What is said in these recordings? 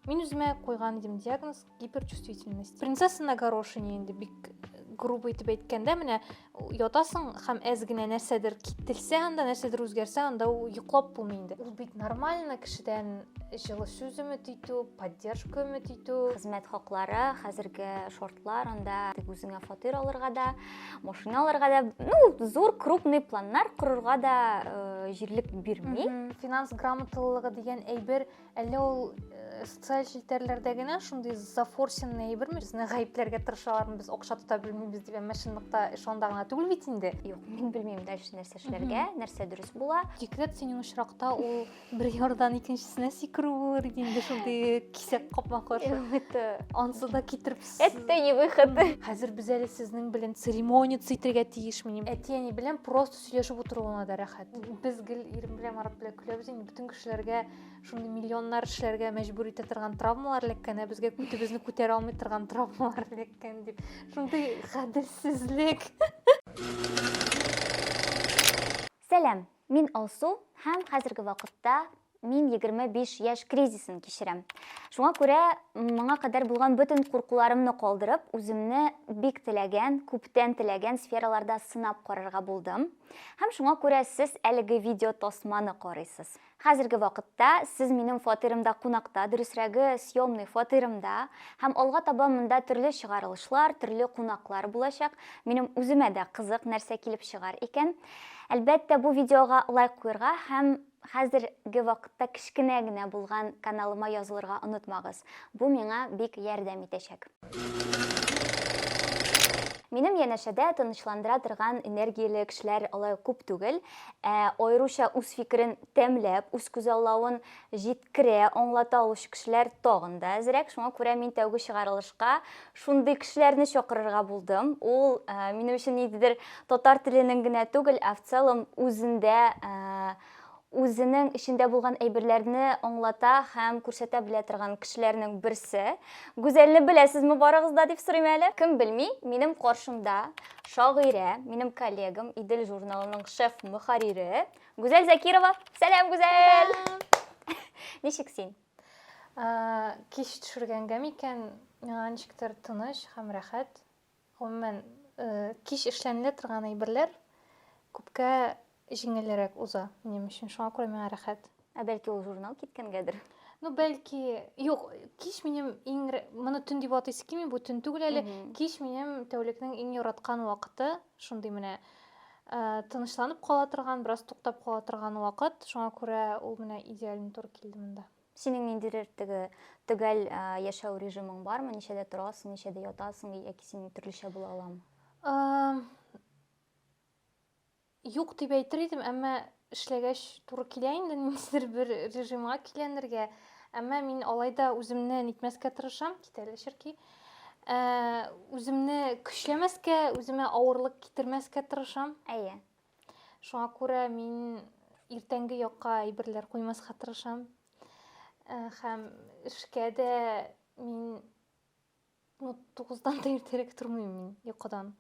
Мин үземә куйган идем диагноз гиперчувствительность. Принцесса на горошине инде бик грубо итеп әйткәндә менә ятасың һәм әз генә нәрсәдер кителсә анда нәрсәдер үзгәрсә анда йоклап булмый инде ул бит нормально кешедән җылы сүз өмет итү поддержка өмет итү хезмәт хаклары хәзерге шортлар анда үзеңә фатир алырга да машина алырга да ну зур крупный планнар корырга да э, җирлек бирми финанс грамоталылыгы дигән әйбер Әллә ул э, социаль челтәрләрдә генә шундый зафорсенный әйберме? Безне гаепләргә тырышалармы, без акча тота белмибез дип, әмма чынлыкта шунда гына түгел бит инде. Юк, мин белмим дальше нәрсә эшләргә, нәрсә дөрес була. Декрет синең очракта ул бер ярдан икенчесенә сикерү булыр иде инде шундый кисәк капма каршы. Это, Ансы да китереп с- это не выход. Хәзер без әле сезнең белән церемония итәргә тиешмени. Әти-әни белән просто сөйләшеп утыру гына да рәхәт. Без гел ирем белән Марат белән көләбез инде, бөтен кешеләргә шундый миллионнар эшләргә мәҗбүр итә торган травмалар эләккән ә безгә көтебезне күтәрә алмый торган травмалар эләккән дип шундый гаделсезлек сәлам мин алсу һәм хәзерге вакытта мин 25 яшь кризисын кичерәм шуңа күрә моңа кадәр булган бөтен куркуларымны калдырып үземне бик теләгән күптән теләгән сфераларда сынап карарга булдым һәм шуңа күрә сез әлеге видео тасманы карыйсыз Хәзерге вакытта сез минем фатирымда кунакта, дөресрәге, съемный фатирымда, һәм алга таба монда төрле чыгарылышлар, төрле кунаклар булачак. Минем үземә дә кызык, нәрсә килеп чыгар икән. Әлбәттә, бу видеога лайк куерга һәм хәзерге вакытта кечкенә генә булган каналыма язылырга онытмагыз. Бу миңа бик ярдәм итәчәк. Минем янәшәдә тынычландыра торган энергияле кешеләр алай ук күп түгел. Ә аеруча үз фикерен тәмләп, үз күзаллавын җиткерә, аңлата алучы кешеләр тагын да әзрәк. Шуңа күрә мин тәүге чыгарылышка шундый кешеләрне чакырырга булдым. Ул минем өчен ниндидер татар теленең генә түгел, ә в целом үзендә үзенең эчендә булган әйберләрне аңлата һәм күрсәтә белә торган кешеләрнең берсе. Гүзәлне беләсезме барыгыз да дип сорыйм әле. Кем белми, минем каршымда шагыйрә, минем коллегам, Идел журналының шеф мөхәррире Гүзәл Закирова. Сәлам, Гүзәл! Ничек син? Кич төшергәнгә микән, миңа ничектер тыныч һәм рәхәт. Гомумән, кич эшләнелә торган әйберләр күпкә җиңелрәк уза минем өчен. Шуңа күрә миңа рәхәт. Ә бәлки ул журнал киткәнгәдер? Ну, бәлки, юк, кич минем иң моны төн дип атыйсы килми, бу төн түгел әле. Кич минем тәүлекнең иң яраткан вакыты, шундый менә тынычланып кала торган, бераз туктап кала торган вакыт. Шуңа күрә ул менә идеально туры килде монда. Синең ниндидер теге төгәл а, яшәү режимың бармы? Ничәдә торасың, ничәдә ятасың, яки синең төрлечә була аламы? Ам, Юк дип әйтер идем, әмма эшләгәч туры килә инде ниндидер бер режимга киләнергә. Әмма мин алай да үземне нитмәскә тырышам, кит әле черки. Ә, Үземне көчләмәскә, үземә авырлык китермәскә тырышам. Әйе. Шуңа күрә мин иртәнге якка әйберләр куймаска тырышам. Э, һәм эшкә дә мин ну, 9-дан да иртәрәк тормыйм мин йокыдан.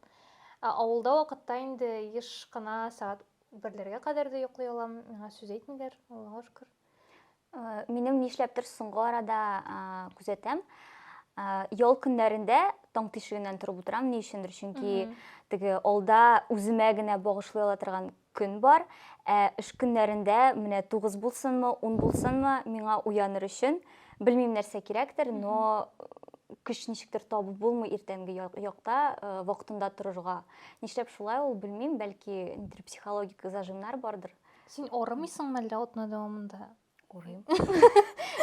Ә авылда вакытта инде еш кына сәгать берләргә кадәр дә йоклый алам. Миңа сүз әйтмиләр, Аллага шөкер. Э, минем нишләптер соңгы арада э, күзәтәм э, ял көннәрендә таң тишегеннән торып утырам ни өчендер чөнки теге алда үземә генә багышлый ала торган көн бар ә эш көннәрендә менә тугыз булсынмы ун булсынмы миңа уяныр өчен белмим нәрсә кирәктер но көч ничектер табып булмый иртәнге якта вакытында торырга нишләп шулай ул белмим бәлки нидер психологик зажимнар бардыр Син орымыйсың мәллә отна дәвамында? Орыйм.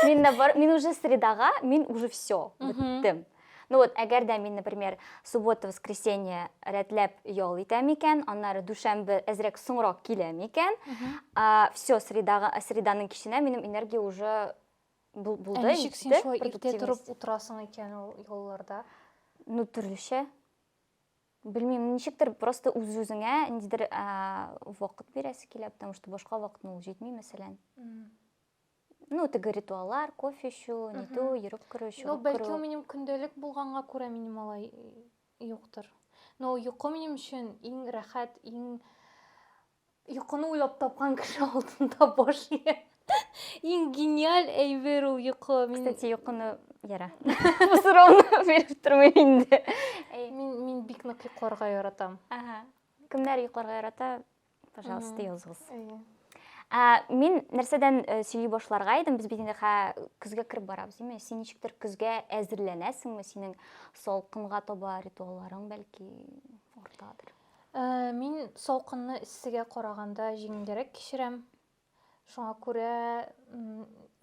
Мин наоборот, мин уже средага, мин уже все, беттем. Ну вот, әгәр дә мин, например, суббота, воскресенье рәтләп ял итәм икән, аннары дүшәмбе әзрәк соңрак киләм икән, все, средага, среданың киченә минем энергия уже булды. Ә ничек син шулай иртә торып утырасың икән ул ялларда? Ну, төрлечә. Белмим, ничектер просто үз-үзеңә ниндидер вакыт бирәсе килә, потому что башка вакытны ул җитми, мәсәлән. Ну, теге ритуаллар, кофе эчү, нитү, йөреп керү, чыгып керү. Ну, бәлки минем көндәлек булганга күрә минем алай юктыр. Но йокы минем өчен иң рәхәт, иң Йокыны уйлап тапкан кеше алдында баш ия. Иң гениаль әйбер ул йокы. Мин... Кстати, йокыны яра. Бу сорауны биреп тормыйм инде. Мин мин бик нык йокларга яратам. Ага. Кемнәр йокларга ярата? Пожалуйста, языгыз. Ә, мин нәрсәдән э, сөйли башларга идем, без бит инде хә көзгә кереп барабыз, димме? Син ничектер көзгә әзерләнәсеңме? Синең салкынга таба ритуалларың бәлки ортадыр. Ә, мин салкынны эссегә караганда җиңелгәрәк кичерәм. Шуңа күрә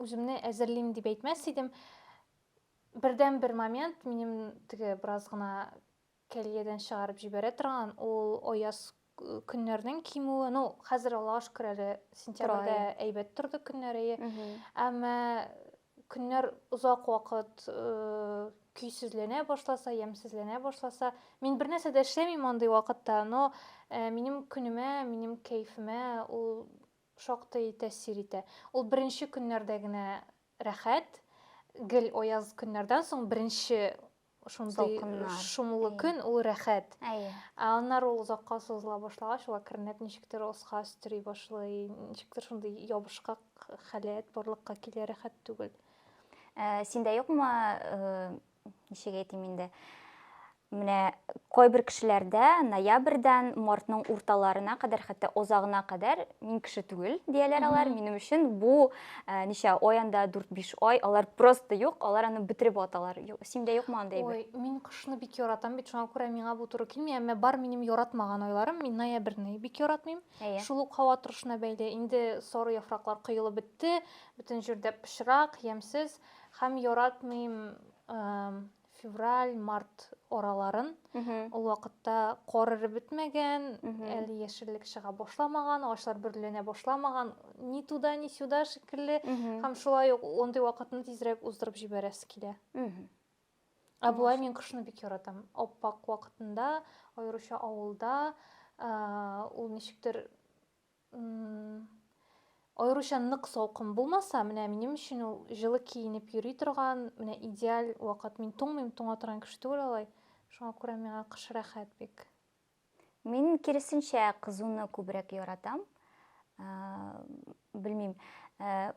үземне әзерлим дип әйтмәс идем. Бердәнбер момент минем теге бераз гына кәлиядән чыгарып җибәрә торган, ул аяз көннәрнең кимүе. Ну, хәзер Аллага шөкер әле сентябрьдә әйбәт торды көннәр, әйе. Әмма көннәр озак вакыт көйсезләнә башласа, ямсезләнә башласа, мин бер нәрсә дә эшләмим андый вакытта, но минем көнемә, минем кәефемә ул шактый тәэсир итә. Ул беренче көннәрдә генә рәхәт, гел аяз көннәрдән соң беренче шундый шомлы көн, ул рәхәт. Әйе. Ә аннары ул озакка сузыла башлагач, ул әкренләп ничектер оска өстери башлый, ничектер шундый ябышкак халәт барлыкка килә, рәхәт түгел. Ә, синдә юкмы, э, ничек әйтим инде? Менә кайбер кешеләрдә ноябрьдән мартның урталарына кадәр, хәтта озагына кадәр мин кеше түгел дияләр алар. Минем өчен бу Ә, ничә ай анда, дүрт-биш ай, алар просто юк, алар аны бетереп аталар. Синдә юкмы андый әйбер? Ой, мин кышны бик яратам бит, шуңа күрә миңа бу туры килми, әмма бар минем яратмаган айларым, мин ноябрьне бик яратмыйм. Әйе. Шул ук һава торышына бәйле, инде сары яфраклар коелып бетте, бөтен җирдә пычрак, ямьсез, һәм яратмыйм февраль, март араларын. Ул вакытта кар эреп бетмәгән, әле яшеллек чыга башламаган, агачлар бөрленә башламаган, ни туда, ни сюда шикелле. Һәм шулай ук ондый вакытны тизрәк уздырып җибәрәсе килә. Ә болай мин кышны бик яратам. Аппак вакытында, аеруча авылда, ул ничектер Аеруча нык салкын булмаса, менә минем өчен ул җылы киенеп йөри торган, менә идеаль вакыт. Мин туңмыйм, туңа торган кеше түгел алай. Шуңа күрә миңа кыш рәхәт бик. Мин киресенчә кызуны күбрәк яратам. Белмим,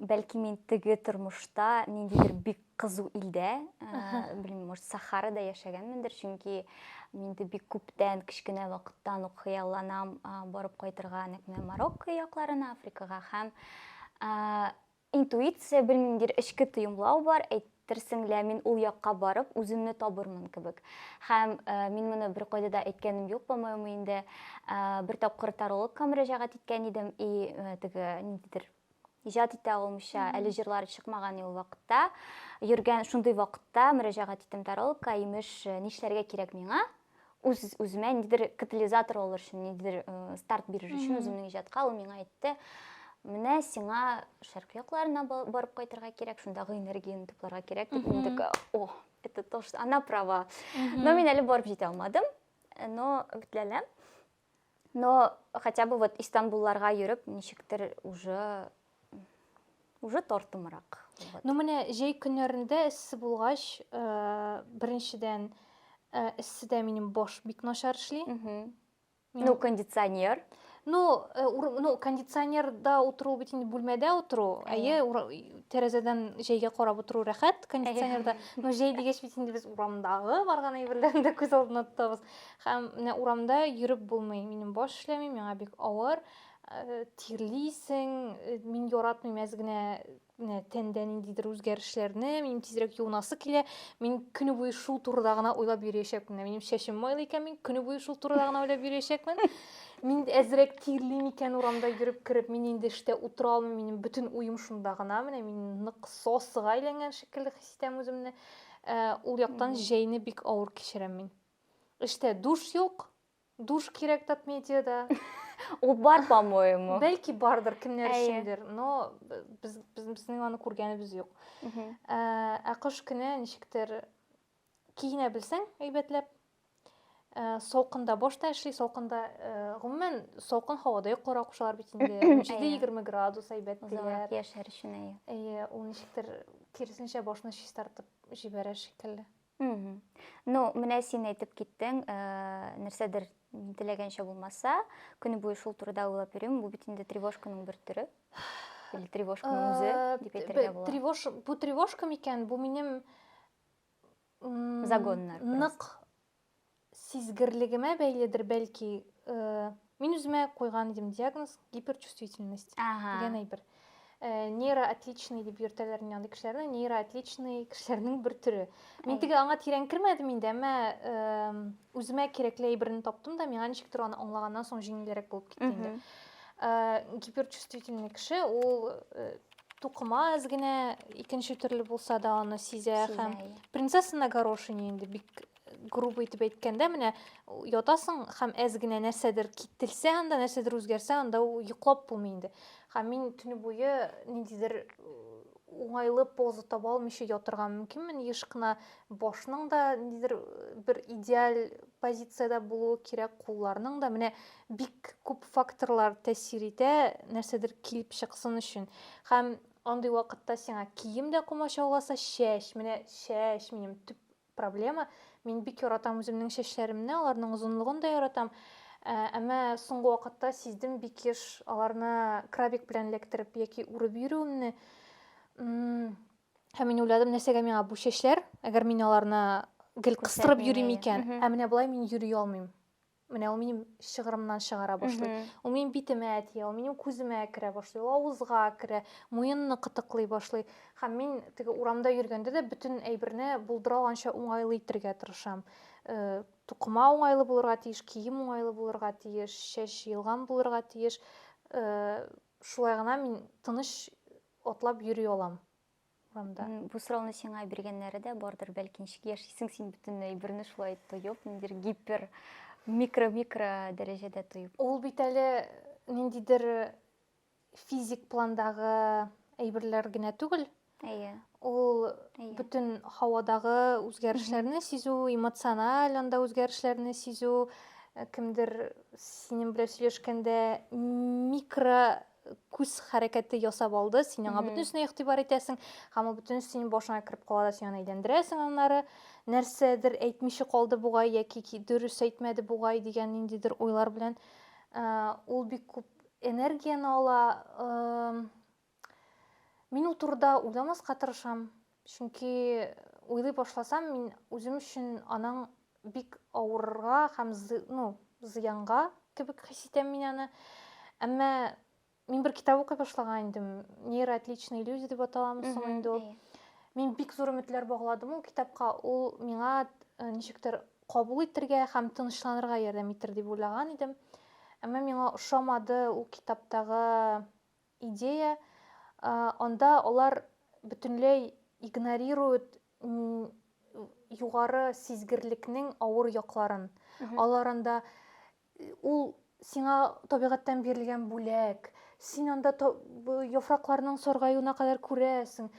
бәлки мин теге тормышта ниндидер бик кызу илдә, белмим, может, Сахарада яшәгәнмендер, чөнки мин инде бик күптән, кечкенә вакыттан ук хыялланам барып кайтырга нәкъ менә Марокко якларына, Африкага һәм интуиция, белмимдер, эчке тоемлау бар, әйтерсең лә мин ул якка барып үземне табырмын кебек. Һәм мин моны беркайда да әйткәнем юк, по-моему, инде бер тапкыр тарологка мөрәҗәгать иткән идем, и теге ниндидер иҗат итә алмыйча, әле җырлары чыкмаган ул вакытта, йөргән шундый вакытта мөрәҗәгать иттем таролка, имеш, э, нишләргә кирәк миңа? Үз үземә ниндидер катализатор алыр өчен, ниндидер э, старт бирер өчен үземнең иҗатка ул миңа әйтте. Менә сиңа шәркы якларына барып кайтырга кирәк, шундагы энергияне тупларга кирәк дип мин такая, о, это то, что она права. Но мин әле барып җитә алмадым, э, но битләләм. Но хотя бы вот Истанбулларга йөреп, ничектер уже уже тартымрак. Вот. Ну менә җәй көннәрендә эссе булгач, э, беренчедән э, эсседә минем баш бик начар эшли. Ну, кондиционер. Ну, э, ур, ну кондиционерда утыру бит инде бүлмәдә утыру, әйе, тәрәзәдән җәйгә карап утыру рәхәт кондиционерда. Но җәй дигәч бит инде без урамдагы барган әйберләрне дә күз алдына тотабыз. Һәм менә урамда йөреп булмый. Минем баш эшләми, миңа бик авыр. Тирлисең, мин яратмыйм әз генә менә тәндә ниндидер үзгәрешләрне, минем тизрәк юынасы килә. Мин көне буе шул турыда гына уйлап йөриячәкмен. Минем чәчем майлы икән, мин көне буе шул турыда гына уйлап йөриячәкмен. Мин әзрәк тирлим икән урамда йөреп кереп, мин инде эштә утыра алмыйм, минем бөтен уем шунда гына. Менә мин нык сосыга әйләнгән шикелле хис итәм үземне. Ул яктан җәйне бик авыр кичерәм мин. Эштә душ юк. Душ кирәк татмедиада. Ул бар, по-моему. Бәлки бардыр, кемнәр Әйе. өчендер, но без, без, безнең аны күргәнебез юк. Мгм. Ә, ә кыш көне ничектер киенә белсәң әйбәтләп. Ә, салкында баш та эшли, салкында, ә, гомумән, салкын һавада йокларга кушалар бит инде. Әйе. 17-20 градус әйбәт Озаграк диләр. яшәр өчен, әйе. Әйе, ул ничектер киресенчә башны чистартып җибәрә шикелле. Ну, менә син әйтеп киттең, э, нәрсәдер теләгәнчә булмаса, көне буе шул турыда уйлап йөрим, бу бит инде тревожканың бер төре. Или тревожканың э, үзе дип әйтергә була. Тревож, бу тревожка микән? Бу минем загоннар. Нык Сизгерлегемә бәйледер, бәлки, мин үземә куйган идем диагноз гиперчувствительность Ага. дигән әйбер. Э, нейроотличный дип йөртәләр инде андый кешеләрне, нейроотличный кешеләрнең бер төре. Мин теге аңа тирән кермәдем инде, әмма үземә кирәкле әйберне таптым да, миңа ничектер аны аңлаганнан соң җиңелрәк булып китте инде. Э, гиперчувствительный кеше ул э, тукыма аз генә икенче төрле булса да аны сизә һәм принцесса на горошине инде бик грубо итеп әйткәндә менә ятасың һәм әз генә нәрсәдер кителсә анда нәрсәдер үзгәрсә анда йоклап булмый инде һәм мин төне буе ниндидер уңайлы поза таба алмыйча ятырга мөмкинмен еш кына башның да ниндидер бер идеаль позициядә булуы кирәк кулларның да менә бик күп факторлар тәэсир итә нәрсәдер килеп чыксын өчен һәм андый вакытта сиңа кием дә комачауласа чәч менә чәч минем төп проблема. Мин бик яратам үземнең чәчләремне, аларның озынлыгын да яратам. Ә, әмма соңгы вакытта сиздем бик еш аларны крабик белән эләктереп яки үреп йөрүемне. Һәм мин уйладым, нәрсәгә миңа бу чәчләр, әгәр мин аларны гел кыстырып йөрим икән, ә менә болай мин йөри алмыйм. Менә ул минем шыгырымнан чыгара башлый. Ул минем битемә тия, ул минем күземә керә башлый, ул авызга керә, муенны кытыклый башлый. Һәм мин теге урамда йөргәндә дә бөтен әйберне булдыра алганча уңайлы итергә тырышам. Э, тукыма уңайлы булырга тиеш, кием уңайлы булырга тиеш, чәч җыелган булырга тиеш. Э, шулай гына мин тыныч атлап йөри алам. урамда. Бу сорауны сиңа биргәннәре дә бардыр, бәлки ничек яшисең син бөтенләй берне шулай тоеп, ниндидер гипер микро-микро дәрәҗәдә тоеп. Ул бит әле ниндидер э, физик пландагы әйберләр генә түгел. Әйе. Ул Әйе. бөтен һавадагы үзгәрешләрне сизү, эмоциональ анда үзгәрешләрне сизү, э, кемдер синең белән сөйләшкәндә микро күз хәрәкәте ясап алды, син аңа бөтенесенә игътибар итәсең, һәм ул бөтенесе синең башыңа кереп кала да син аны әйләндерәсең, аннары нәрсәдер әйтмичә калды бугай яки дөрес әйтмәде бугай дигән ниндидер уйлар белән ул бик күп энергияне ала. Мин ул турыда уйламаска тырышам. Чөнки уйлый башласам, мин үзем өчен аның бик авырырга һәм ну, зыянга кебек хис итәм мин аны. Әмма мин бер китап укый башлаган идем. Нейроотличные люди дип аталамы соң инде ул. Мин бик зур өметләр багладым ул китапка. Ул миңа э, ничектер кабул итәргә һәм тынычланырга ярдәм итер дип уйлаган идем. Әмма миңа ошамады ул китаптагы идея, анда алар бөтенләй игнорируют югары сизгерлекнең авыр якларын. Алар анда ул сиңа табигатьтән бирелгән бүләк, син анда яфракларның саргаюына кадәр күрәсең,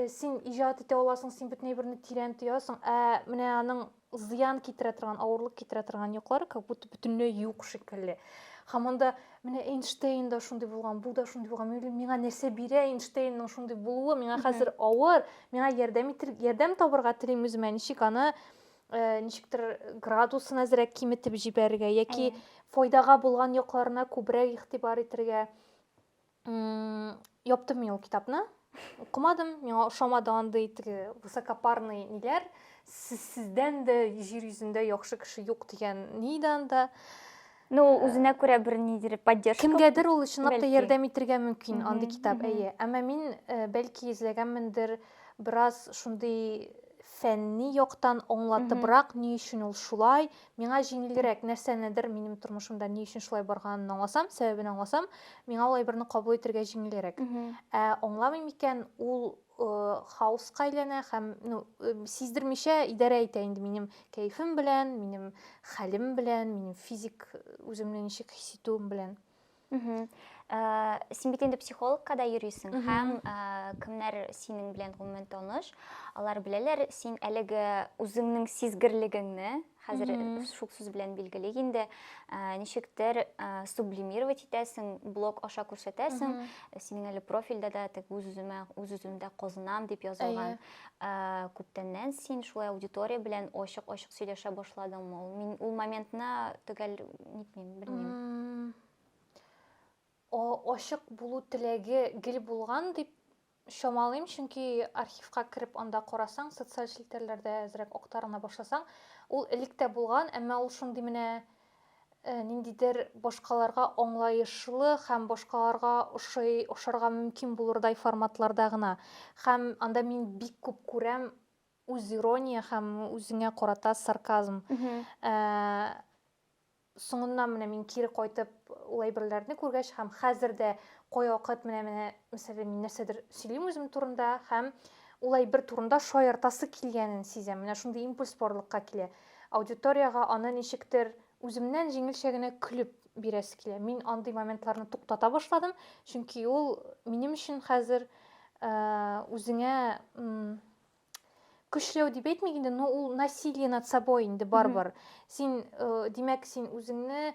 син иҗат итә аласың, син бөтен әйберне тирән тоясың, ә менә аның зыян китерә торган авырлык китерә торган йоклары как будто бөтенләй юк шикелле һәм анда менә эйнштейн да шундый булган бу да шундый булган миңа нәрсә бирә эйнштейнның шундый булуы миңа хәзер авыр миңа ярдәм итер ярдәм табырга телим үземә ничек аны э, ничектер градусын әзрәк киметеп җибәрергә яки файдага булган якларына күбрәк игътибар итәргә Яптым мин ул китапны. Укымадым, миңа ошамады андый теге высокопарный ниләр. Сез сездән дә җир йөзендә яхшы кеше юк дигән ни иде анда. Ну, ул үзенә күрә бер нидер поддержка. Кемгәдер ул чынлап та ярдәм итергә мөмкин андый китап, әйе. Әмма мин бәлки эзләгәнмендер бераз шундый фәнни яктан аңлатыбрак, ни өчен ул шулай, Миңа җиңелгерәк, нәрсәнедер минем тормышымда ни өчен шулай барганын аңласам, сәбәбен аңласам, миңа ул әйберне кабул итергә җиңелгерәк. Ә аңламыйм икән, ул хаоска әйләнә һәм ну, сиздермичә идарә итә инде минем кәефем белән, минем хәлем белән, минем физик үземне ничек хис итүем белән. Мхм. Э, син бит инде психологка да йөрисең һәм э, кемнәр синең белән гомумән таныш, алар беләләр син әлеге үзеңнең сизгерлегеңне, хәзер шук сүз белән билгели инде, э, ничектер сублимировать итәсең, блог аша күрсәтәсең, синең әле профильдә дә тег үз-үземә, үз-үземдә казынам дип язылган. Ә, күптәннән син шулай аудитория белән ачык-ачык сөйләшә башладыңмы? Ул мин ул моментны төгәл нитмим, белмим. О, ачык булу теләге гел булган дип чамалыйм, чөнки архивка кереп анда карасаң, социаль челтәрләрдә әзрәк актарына башласаң, ул элек тә булган, әмма ул шундый менә Э, ниндидер башкаларга аңлаешлы һәм башкаларга ошый ошарга мөмкин булырдай форматларда гына һәм анда мин бик күп күрәм үз ирония һәм үзеңә карата сарказм э, соңыннан менә мин кире кайтып ул әйберләрне күргәч һәм хәзер дә кайвакыт менә менә мәсәлән мин нәрсәдер сөйлим үзем турында һәм ул әйбер турында шаяртасы килгәнен сизәм менә шундый импульс барлыкка килә Аудиториягә аны ничектер үземнән җиңелчә генә көлеп бирәсе килә. Мин андый моментларны туктата башладым, чөнки ул минем өчен хәзер э, үзеңә көчләү дип әйтмик инде, но ул насилие над собой инде барбар. Син, э, димәк, син үзеңне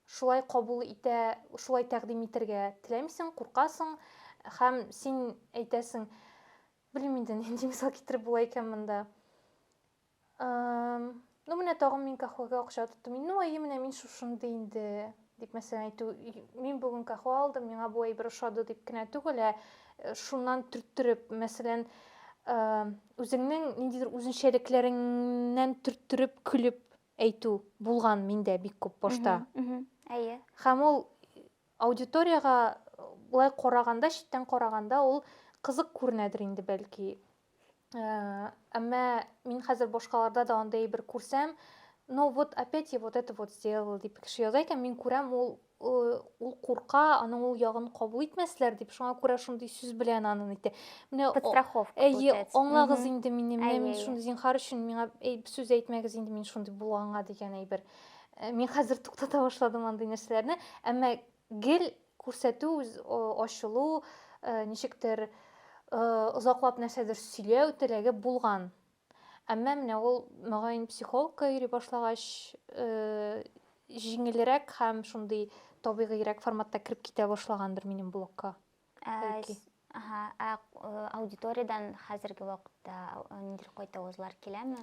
шулай кабул итә, шулай тәкъдим итәргә теләмисең, куркасың һәм син әйтәсең, Белмим инде нинди мисал китереп була икән монда. Ну менә тагын мин кахвага акча тоттым. Ну әйе менә мин шушынды инде дип мәсәлән әйтү. Мин бүген кахва алдым, миңа бу әйбер ошады дип кенә түгел, ә э, шуннан төрттереп, мәсәлән, үзеңнең ниндидер үзенчәлекләреңнән төрттереп көлеп әйтү булган миндә бик күп башта. Әйе. Һәм ул Аудиториягә болай караганда, читтән караганда ул кызык күренәдер инде бәлки. Әмма мин хәзер башкаларда да андый бер күрсәм, но вот опять я вот это вот сделал дип кеше яза икән, мин күрәм, ул ул курка, аның ул ягын кабул итмәсләр дип, шуңа күрә шундый сүз белән аны әйтте. Менә подстраховка. Әйе, аңлагыз инде мине, менә мин шундый зинхар өчен миңа сүз әйтмәгез инде мин шундый булганга дигән әйбер. Э, мин хәзер туктата башладым андый нәрсәләрне әмма гел күрсәтү ачылу э, ничектер э, озаклап нәрсәдер сөйләү теләге булган әмма менә ул мөгаен психологка йөри башлагач җиңелрәк һәм шундый табигыйрәк форматта кереп китә башлагандыр минем блогка ә, ә аудиториядән хәзерге вакытта ниндидер кайтавызлар киләме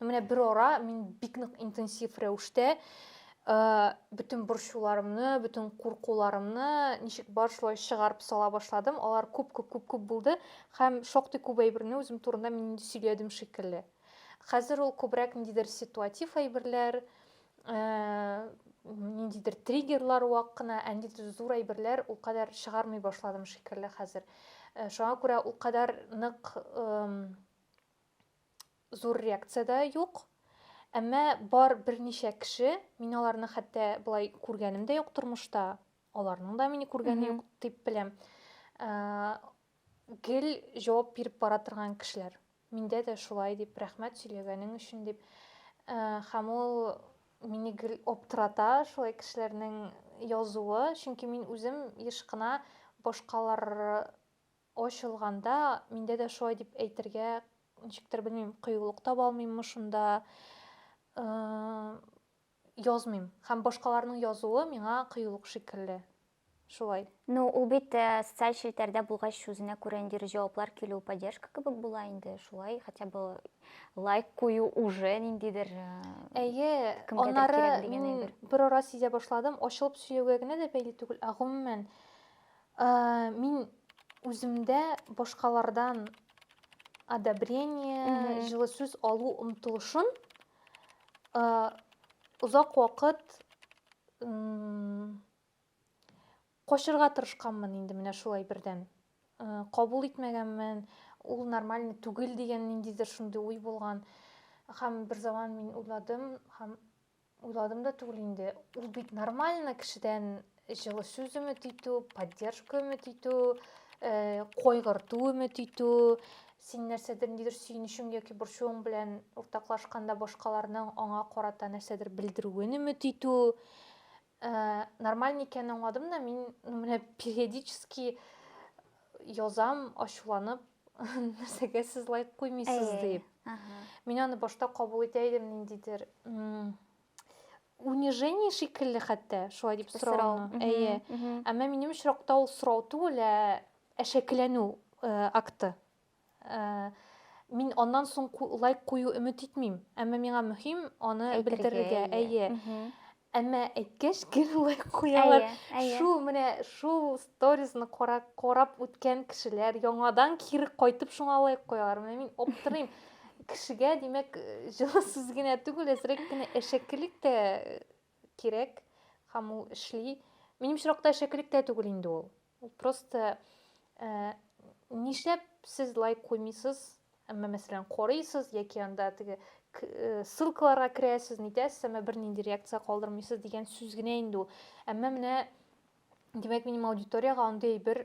Менә бер ара мин бик нык интенсив рәвештә бөтен борчуларымны, бөтен куркуларымны ничек бар шулай чыгарып сала башладым. Алар күп-күп-күп-күп булды һәм шактый күп әйберне үзем турында мин инде сөйләдем шикелле. Хәзер ул күбрәк ниндидер ситуатив әйберләр, ниндидер триггерлар вак кына, ә ниндидер зур әйберләр ул кадәр чыгармый башладым шикелле хәзер. Шуңа күрә ул кадәр нык Зур реакция дә юк. Әмма бар берничә кеше, мин аларны хәтта болай күргәнем дә юк тормышта, аларның да мине күргәне юк дип беләм. Гел җавап биреп бара торган кешеләр. Миндә дә шулай дип, рәхмәт сөйләгәнең өчен дип. Һәм ул мине гел аптырата шулай кешеләрнең язуы, чөнки мин үзем еш кына башкалар Ачылганда, миндә дә шулай дип әйтергә, ничектер, белмим, кыюлык таба алмыйммы шунда, язмыйм. Һәм башкаларның язуы миңа кыюлык шикелле. Шулай. Ну, ул бит социаль челтәрдә булгач, үзенә күрә ниндидер җаваплар килү, поддержка кебек була инде. Шулай хотя бы лайк кую уже ниндидер Әйе, аннары мин берара сизә башладым, ачылып сөйләүгә генә дә бәйле түгел, ә гомумән, Ә мин үземдә башкалардан одобрение, Мгм. җылы сүз алу омтылышын э, озак вакыт м, качырга тырышканмын инде менә шулай бердән. Э, Кабул итмәгәнмен, ул нормальный түгел дигән ниндидер шундый уй булган. Һәм берзаман мин уйладым һәм Уйладым да түгел инде. Ул бит нормально кешедән җылы сүз өмет итү, поддержка өмет итү, э, кайгырту өмет итү, син нәрсәдер нидер сөенечең яки борчуың белән уртаклашканда башкаларның аңа карата нәрсәдер белдерүен өмет итү Ә, нормаль микән аңладым да, мин ну, менә периодически язам, ачуланып, нәрсәгә сез лайк куймыйсыз Әй, дип. Ага. Мин аны башта кабул итә идем ниндидер унижение шикелле хәтта, шулай дип сорауны. Әйе. Әмма минем очракта ул сорау түгел, ә әшәкеләнү акты. Мин аннан соң лайк кую өмет итмим, әмма миңа мөһим аны белдерергә. Әйе. Әмма әйткәч, гел лайк куялар. Шул менә шул сторисны карап, карап үткән кешеләр яңадан кире кайтып шуңа лайк куялар. Менә мин аптырыйм. Кешегә, димәк, җылы сүз генә түгел, әзрәк кенә әшәкелек тә кирәк, һәм ул эшли. Минем очракта әшәкелек тә түгел инде ул. Ул просто э, нишләп сез лайк куймыйсыз? Әмма мәсәлән, карыйсыз яки анда теге э, ссылкаларга керәсез, нитәсез, әмма бернинди реакция калдырмыйсыз дигән сүз генә инде ул. Әмма менә димәк, минем аудиториягә андый бер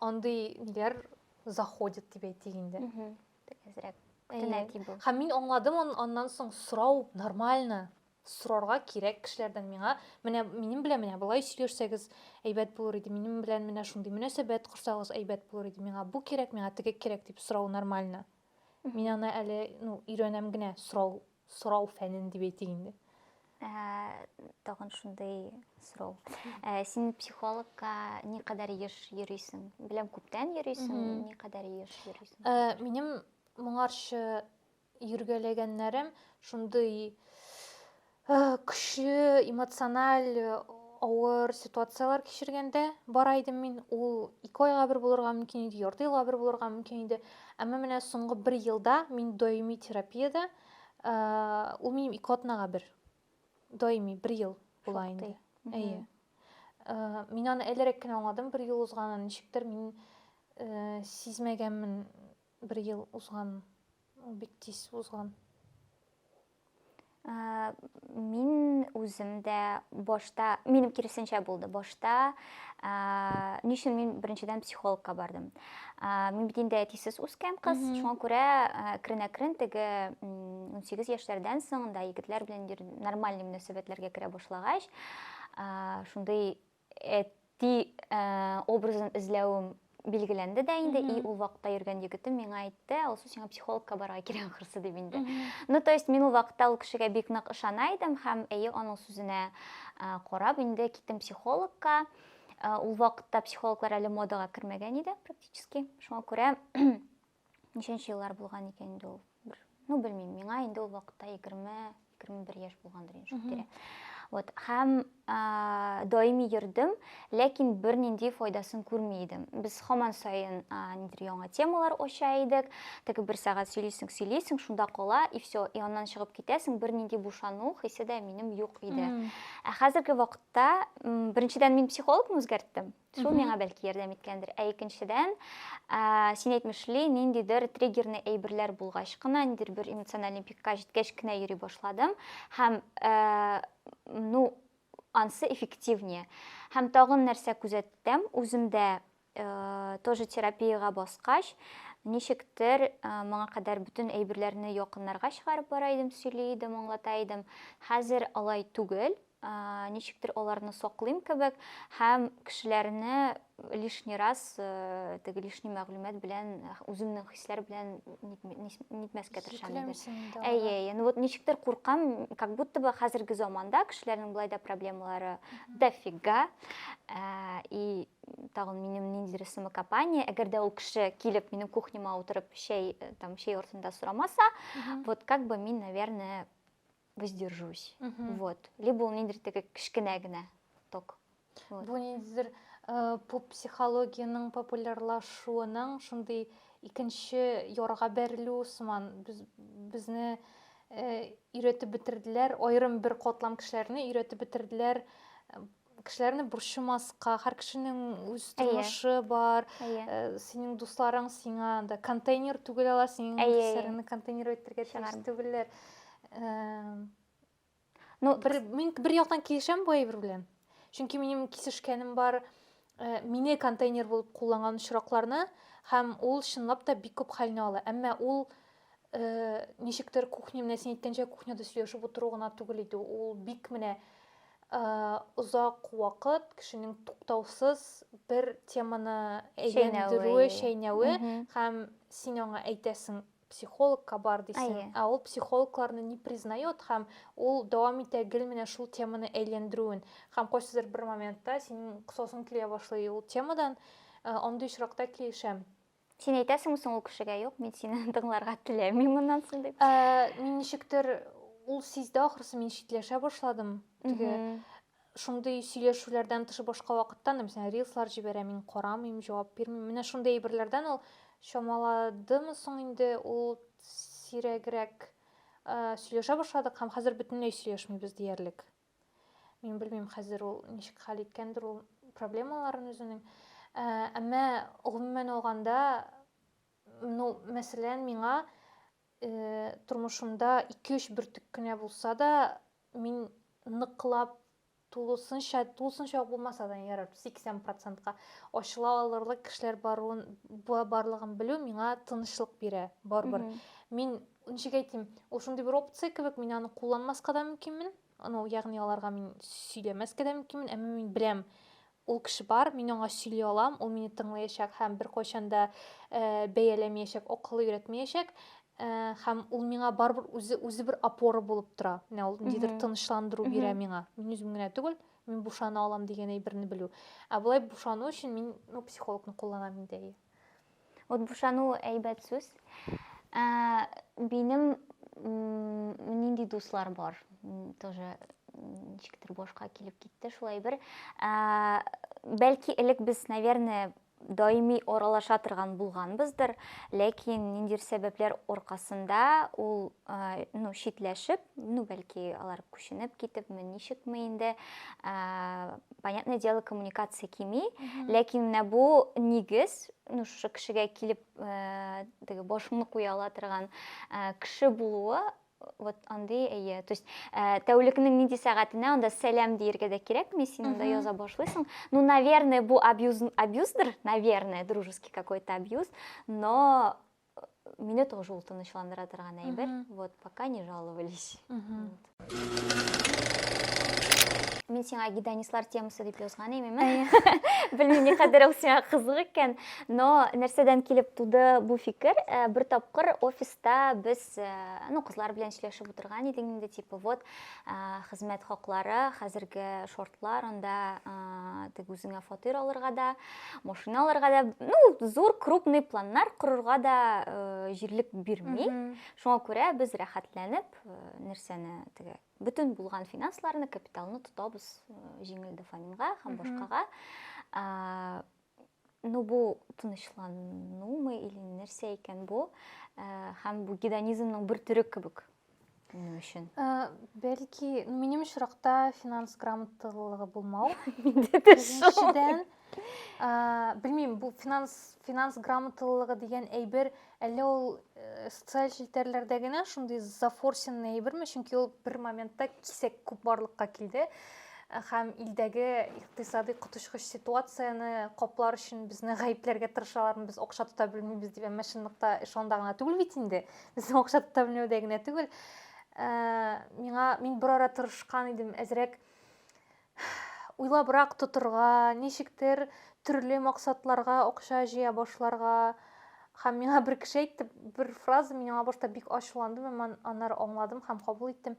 андый ниләр заходит дип әйтик инде. Әзрәк. Тенәки бу. Һәм мин аңладым аннан соң сорау нормально. Сорарга кирәк кешеләрдән миңа, менә минем белән менә болай сөйләшсәгез, әйбәт булыр иде, минем белән менә шундый мөнәсәбәт корсагыз, әйбәт булыр иде, миңа бу кирәк, миңа теге кирәк дип сорау нормально. Мин аны әле, ну, өйрәнәм генә, сорау, сорау фәнен дип әйтик инде. Тагын шундый сорау. Син психологка никадәр еш йөрисең? Беләм, күптән йөрисең, никадәр еш йөрисең? Минем моңарчы йөргәләгәннәрем шундый көчле эмоциональ авыр ситуацияләр кичергәндә бара идем мин ул ике айга бер булырга мөмкин иде ярты елга бер булырга мөмкин иде әмма менә соңгы бер елда мин даими терапиядә ул минем ике атнага бер даими бер ел була инде әйе мин аны әлерәк кенә аңладым бер ел узганын ничектер мин сизмәгәнмен Бер ел узган, ул бик тиз узган. Мин үзем дә башта, минем киресенчә булды. Башта ни өчен мин беренчедән психологка бардым. Мин бит инде әтисез үскән кыз, шуңа күрә әкрен-әкрен теге 18 яшьләрдән соң да егетләр белән нормаль мөнәсәбәтләргә керә башлагач, шундый Әти образын эзләвем билгеләнде дә инде, и ул вакытта йөргән егетем миңа әйтте, Алсу, сиңа психологка барырга кирәк ахрысы дип инде. Ну, то есть мин ул вакытта ул кешегә бик нык ышана идем һәм әйе аның сүзенә карап инде киттем психологка. Ул вакытта психологлар әле модага кермәгән иде практически. Шуңа күрә ничәнче еллар булган икән инде ул бер ну белмим миңа инде ул вакытта егерме егерме бер яшь булгандыр инде шул тирә вот һәм ә, даими йөрдем ләкин бернинди файдасын күрми идем без һаман саен нидер яңа темалар ача идек теге бер сәгать сөйлисең сөйлисең шунда кала и все и аннан чыгып китәсең бернинди бушану хисе дә минем юк иде ә хәзерге вакытта беренчедән мин психологны үзгәрттем Шул Мгм. миңа бәлки ярдәм иткәндер. Ә икенчедән, ә, син әйтмешли, ниндидер триггерный әйберләр булгач кына, ниндидер бер эмоциональный пикка җиткәч кенә йөри башладым. Һәм, ә, ну, ансы эффективнее. Һәм тагын нәрсә күзәттем, үземдә, ә, тоже терапиягә баскач, ничектер, ә, моңа кадәр бөтен әйберләрне якыннарга чыгарып бара идем, сөйли идем, аңлата идем. Хәзер алай түгел, ничектер аларны саклыйм кебек һәм кешеләрне лишний раз теге лишний мәгълүмат белән үземнең хисләр белән нитмәскә тырышам инде әйе әйе ну вот ничектер куркам как будто бы хәзерге заманда кешеләрнең болай да проблемалары дофига и тагын минем ниндидер самокопание әгәр дә ул кеше килеп минем кухняма утырып чәй там чәй артында сорамаса вот как бы мин наверное воздержусь. Вот. Либо ул ниндидер теге кечкенә генә ток. Вот. Бу ниндидер э, поп психологиянең популярлашуының шундый икенче ярга бәрелү сыман без безне э, өйрәтеп бетерделәр, аерым бер котлам кешеләрне өйрәтеп бетерделәр э, кешеләрне борчымаска һәр кешенең үз тормышы бар синең дусларың сиңа анда контейнер түгел ала синең кешеләреңне контейнер итәргә тиеш түгелләр ну бер мин бер яктан килешәм бу әйбер белән чөнки минем кисешкәнем бар мине контейнер булып кулланган очракларны һәм ул чынлап та бик күп хәлне ала әмма ул Э, ничектер кухня менә син әйткәнчә кухняда сөйләшеп утыру гына түгел иде ул бик менә э, озак вакыт кешенең туктаусыз бер теманы әйләндерүе чәйнәве һәм син аңа әйтәсең психологка бар дисең ә ул психологларны не признает һәм ул дәвам итә гел менә шул теманы әйләндерүен һәм кайсыдыр бер моментта синең косасың килә башлый ул темадан э, андый очракта килешәм Син әйтәсеңме соң ул кешегә, юк, мин сине тыңларга теләмим моннан соң дип? Ә, мин ничектер ул сизде ахрысы, мин читләшә башладым. Теге шундый сөйләшүләрдән тыш башка вакытта, мәсәлән, рилслар җибәрә, мин карамыйм, җавап бирмим. Менә шундый әйберләрдән ул чамаладымы соң инде ул сирәгрәк сөйләшә башладык һәм хәзер бөтенләй сөйләшмибез диярлек. Мин белмим хәзер ул ничек хәл иткәндер ул проблемаларын үзенең. Ә, әмма гомумән алганда, ну, мәсәлән, миңа э, тормышымда 2-3 бөртек кенә булса да, мин ныклап тулысынча, тулысынча булмаса да ярар, 80%-ка ачыла алырлык кешеләр баруын, барлыгын белү миңа тынычлык бирә, барбар. Мин Ничек әйтим, ул шундый бер опция кебек, мин аны кулланмаска да мөмкинмен. Ну, ягъни аларга мин сөйләмәскә дә мөмкинмен, әмма мин беләм, ул кеше бар, мин аңа сөйли алам, ул мине тыңлаячак һәм беркайчан да э, бәяләмәячәк, акылы өйрәтмәячәк. Э, һәм ул миңа барыбер үзе үзе бер опора булып тора. Менә ул ниндидер тынычландыру бирә миңа. Мин үзем генә түгел, мин бушана алам дигән әйберне белү. Ә болай бушану өчен мин ну, психологны кулланам инде. Вот бушану әйбәт сүз. Ә, минем нинди дуслар бар? Тоже ничектер башка килеп китте шулай бер. Ә, бәлки элек без, наверное, даими аралаша торган булганбыздыр, ләкин ниндидер сәбәпләр аркасында ул ну, читләшеп, ну, бәлки алар күченеп китепме, ничекме инде, понятное дело, коммуникация кими, ләкин менә бу нигез, ну, шушы кешегә килеп, э, теге башыңны куя ала торган э, кеше булуы, вот андый әйе то есть э, тәүлекнең нинди сәгатенә анда сәлам диергә дә кирәкми син анда яза башлыйсың ну наверное бу абьюз абьюздыр наверное дружеский какой то абьюз но Мине тоже ул тынычландыра торган әйбер. Вот, пока не жаловались. Мин сиңа гедонистлар темасы дип язган имеме? Белмим, ни кадәр ул сиңа кызык икән, но нәрсәдән килеп туды бу фикер? Э, бер тапкыр офиста без, э, ну, кызлар белән сөйләшеп утырган идек инде, типа, вот, э, хезмәт хаклары, хәзерге шортлар, анда тек үзеңә фатир алырга да, машина алырга да ну зур крупный планнар корырга да э, җирлек бирми шуңа күрә без рәхәтләнеп э, нәрсәне теге бөтен булган финансларны капиталны тотабыз э, җиңел дофаминга һәм башкага э, ну бу тынычланумы или нәрсә икән бу э, һәм бу гедонизмның бер төре кебек Минем өчен. Э, Бәлки, ну, минем очракта финанс грамоталылыгы булмау. Миндә дә шул. Икенчедән, э, белмим, бу финанс финанс грамоталылыгы дигән әйбер әллә ул э, социаль челтәрләрдә генә шундый зафорсенный әйберме? Чөнки ул бер моментта кисәк күп барлыкка килде һәм илдәге икътисадый коточкыч ситуацияне каплар өчен безне гаепләргә тырышалармы без акча тота белмибез дип әмма чынлыкта эш анда гына түгел бит инде Безнең акча тотамләүдә генә түгел. Ә, миңа мин бер ара тырышкан идем, әзрәк уйлабрак тотырга, ничектер төрле максатларга акча җыя башларга. Һәм миңа бер кеше әйтте, бер фраза мин аңа башта бик ачуландым, әмма аннары аңладым һәм кабул иттем.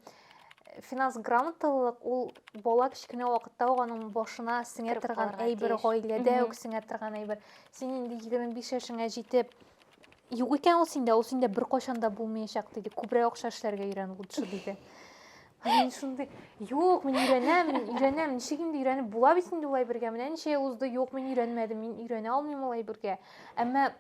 Финанс грамоталылык ул бала кечкенә вакытта ук аның башына сеңә торган әйбер, гаиләдә үк сеңә торган әйбер. Син инде 25 яшеңә җитеп, Юк икән ул синдә, ул синдә беркайчан да булмаячак диде. Күбрәк акча эшләргә өйрән лучше диде. Мин шундый, юк, мин өйрәнәм, мин өйрәнәм, ничек инде өйрәнеп була бит инде улай бергә. Менә ничә ел узды, юк, мин өйрәнмәдем, мин өйрәнә алмыйм улай бергә. Әмма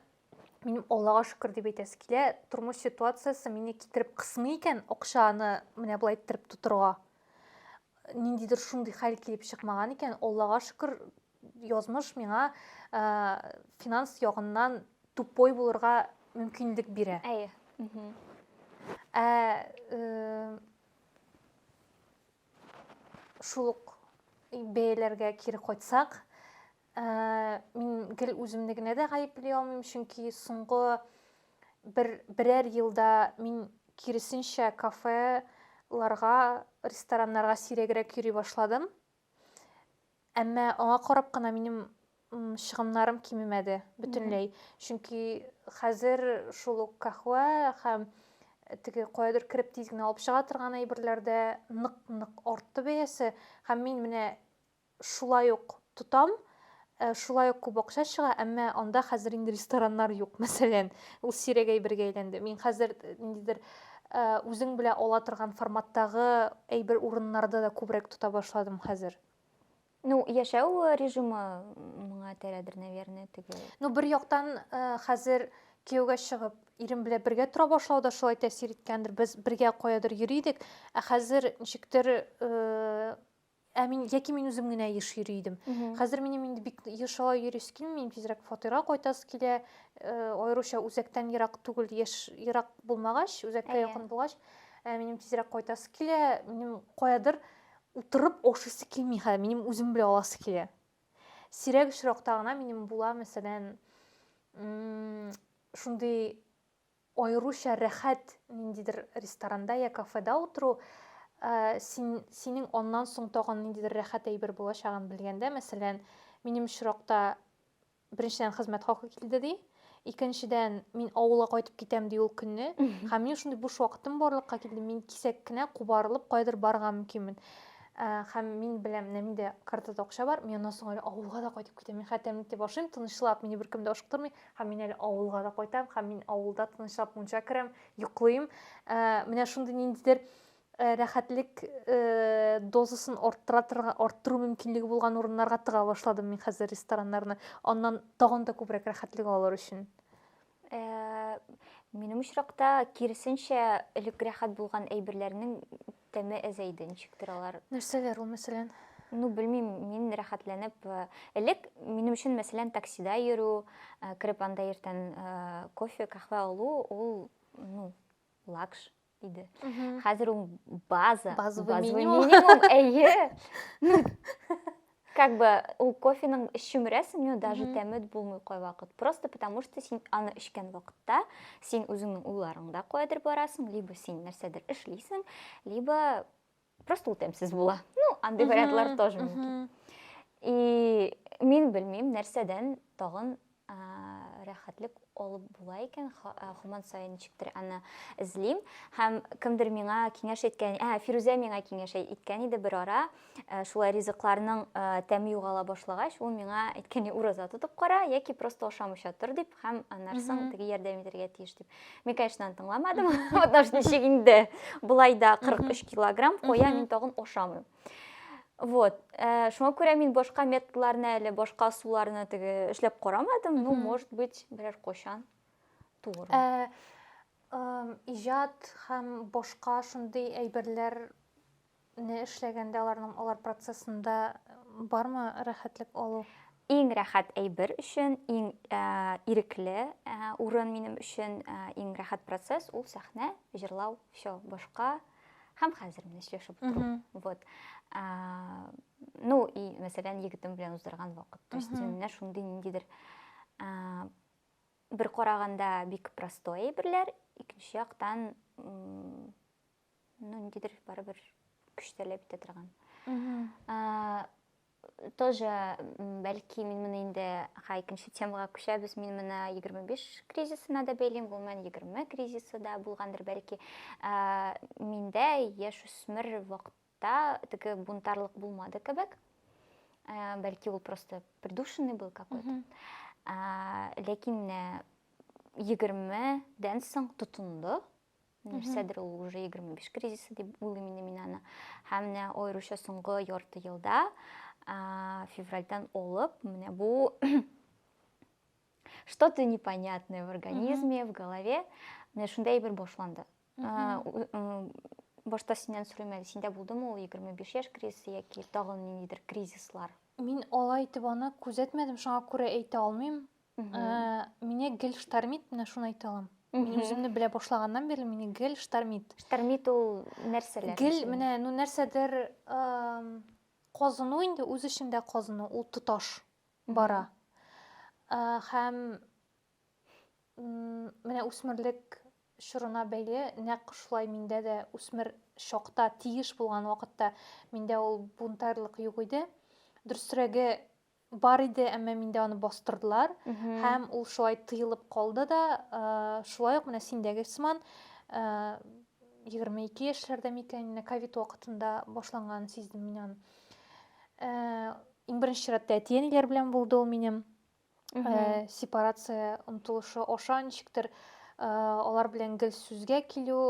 минем Аллага шөкер дип әйтәсе килә, тормыш ситуациясе мине китереп кысмый икән, акчаны менә болай иттереп тотырга. Ниндидер шундый хәл килеп чыкмаган икән, Аллага шөкер, Язмыш миңа финанс ягыннан тупой булырга мөмкинлек бирә. Әйе. Ә шул ук бәяләргә кире кайтсак, мин гел үземне генә дә гаепли алмыйм, чөнки соңгы бер берәр елда мин киресенчә кафеларга, рестораннарга сирәгрәк йөри башладым. Әмма аңа карап кына минем чыгымнарым кимемәде бөтенләй. Чөнки хәзер шул ук кахва һәм э, теге каядыр кереп тиз генә алып чыга торган әйберләрдә нык-нык артты бәясе һәм мин менә шулай ук тотам, Ә шулай ук күп акча чыга, әмма анда хәзер инде рестораннар юк, мәсәлән. Ул сирәк әйбергә әйләнде. Мин хәзер ниндидер үзең белән ала торган форматтагы әйбер урыннарда да күбрәк тота башладым хәзер. Ну, яшәү режимы моңа терәдер, наверное, теге. Ну, бер яктан хәзер кияүгә чыгып, ирем белән бергә тора башлау да шулай тәэсир иткәндер. Без бергә каядыр йөри идек, ә хәзер ничектер Ә мин яки мин үзем генә еш йөри идем. Хәзер минем инде бик еш алай йөрис килми, тизрәк фатирга кайтас килә. Э, аеруча үзәктән ерак түгел, яшь ерак булмагач, үзәккә якын булгач, ә минем тизрәк кайтас килә. Минем каядыр утырып ашыйсы килми хәзер, минем үзем белән аласы килә. Сирәк очракта гына минем була, мәсәлән, шундый Аеруча рәхәт ниндидер ресторанда йә кафеда утыру, син, синең аннан соң тагын ниндидер рәхәт әйбер булачагын белгәндә, мәсәлән, минем очракта, беренчедән, хезмәт хакы килде, ди, икенчедән, мин авылга кайтып китәм, ди, ул көнне, һәм минем шундый буш вакытым барлыкка килде, мин кисәк кенә кубарылып каядыр барырга мөмкинмен. Һәм мин беләм, менә миндә картада акча бар, мин аннан соң әле авылга да кайтып китәм, мин хәтта әниемне тип ашыйм, тынычлап, мине беркем дә ашыктырмый, Һәм мин әле авылга да кайтам, һәм мин авылда тынычлап мунча керәм, йоклыйм. Ә, менә шундый ниндидер Э, рәхәтлек э, дозасын арттыра арттыру мөмкинлеге булган урыннарга тыга башладым мин хәзер рестораннарны аннан тагын да күбрәк рәхәтлек алыр өчен э, минем очракта киресенчә элек рәхәт булган әйберләрнең Тәме әзәйде, ничектер алар. Нәрсәләр ул, мәсәлән? Ну, белмим, мин рәхәтләнеп, э, элек минем өчен, мәсәлән, таксида йөрү, э, кереп анда иртән э, кофе, каһвә алу, ул, ну, лакш иде. Хәзер ул база, Базовый минимум. минимум, әйе. Ну, Как бы ул кофеның эчүмрәсең, но даже тәме булмый кайвакыт. Просто потому что син аны эчкән вакытта син үзеңнең уйларыңда куәдер барасың, либо син нәрсәдер эшлисең, либо просто ул тәмсез була. Ну, андый вариантлар тоже мөмкин. И мин белмим, нәрсәдән тагын рәхәтлек алып була икән, һаман саен ничектер аны эзлим. Һәм кемдер миңа киңәш иткән, ә, Фирүзә миңа киңәш иткән иде бер ара, э, шулай ризыкларның э, тәме югала башлагач, ул миңа әйткәне ураза тотып кара, яки просто ашамыйча тор дип, һәм аннарсың теге ярдәм итәргә тиеш дип. Мин, конечно, аны тыңламадым, потому что ничек инде, болай да 43 килограмм куя, мин тагын ашамыйм. Вот. Э, шуңа күрә мин башка методларны әле, башка суларны теге эшләп карамадым. Ну, может быть, берәр кочан туыр. Э, э, иҗат һәм башка шундый әйберләр не эшләгәндә аларның алар процессында бармы рәхәтлек алу? Иң рәхәт әйбер өчен, иң ә, ирекле ә, урын минем өчен, ә, иң рәхәт процесс ул сәхнә, җырлау, все, башка ә, һәм хәзер менә сөйләшеп утырам вот ну и мәсәлән егетем белән уздырган вакыт то есть менә шундый ниндидер бер караганда бик простой әйберләр икенче яктан ну ниндидер барыбер көч таләп итә торган тоже бәлки мин моны инде ха икенче темага күчәбез мин моны егерме биш кризисына да бәйлим гомумән егерме кризисы да булгандыр бәлки ә, миндә яшүсмер вакытта теге бунтарлык булмады кебек ә, бәлки ул просто придушенный был какой то ә, ләкин егермедән соң тотынды нәрсәдер ул уже егерме биш кризисы дип уйлыйм инде мин аны һәм менә аеруча соңгы ярты елда февральдан алып менә бу что то непонятное в организме в голове менә шундай әйбер башланды башта синнән сорыйм әле синдә булдымы ул егерме биш яшь кризисы яки тагын ниндидер кризислар мин алай итеп аны күзәтмәдем шуңа күрә әйтә алмыйм Меня гел штормит, менә шуны әйтә алам. Мин үземне белә башлаганнан бирле мине гел штормит. Штормит ул нәрсәләр? Гел менә ну нәрсәдер казыну инде үз эчендә казыну, ул тоташ бара. Һәм менә үсмерлек чорына бәйле нәкъ шулай миндә дә үсмер чакта тиеш булган вакытта миндә ул бунтарьлык юк иде. Дөресрәге Бар иде, әмма миндә аны бастырдылар. Һәм ул шулай тыелып калды да, шулай ук менә синдәге сыман 22 яшьләрдә микән, менә ковид вакытында башланган сиздем мин аны. Иң беренче чиратта әти-әниләр белән булды ул минем. Сепарация омтылышы аша ничектер алар белән гел сүзгә килү,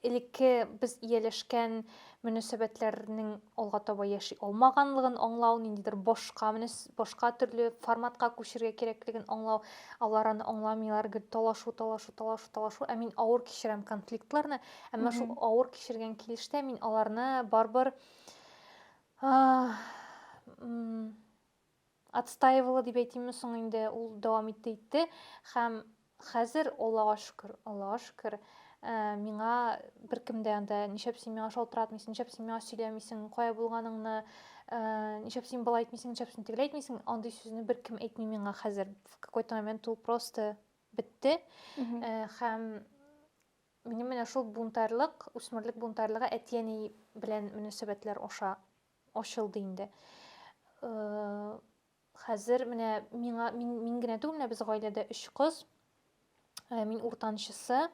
элекке без ияләшкән мөнәсәбәтләрнең алга таба яши алмаганлыгын аңлау, ниндидер башка башка төрле форматка күчергә кирәклеген аңлау, алар аны аңламыйлар, гел талашу, талашу, талашу, талашу, ә мин авыр кичерәм конфликтларны, әмма шул авыр кичергән килештә мин аларны барбар отстаивала дип әйтимме соң инде, ул дәвам итте итте һәм хәзер, Аллага шөкер, Аллага шөкер, э, миңа беркем дә анда ничәп син миңа шалтыратмыйсың, ничәп син миңа сөйләмисең, кая булганыңны, э, ничәп син болай әйтмисең, ничәп син тегеләй әйтмисең, андый сүзне беркем әйтми миңа хәзер. В какой-то момент ул просто бетте. Э, һәм минем менә шул бунтарьлык, үсмерлек бунтарьлыгы әти-әни белән мөнәсәбәтләр аша ачылды инде. Хәзер менә миңа мин, мин генә түгел, менә без гаиләдә өч кыз. Мин уртанчысы.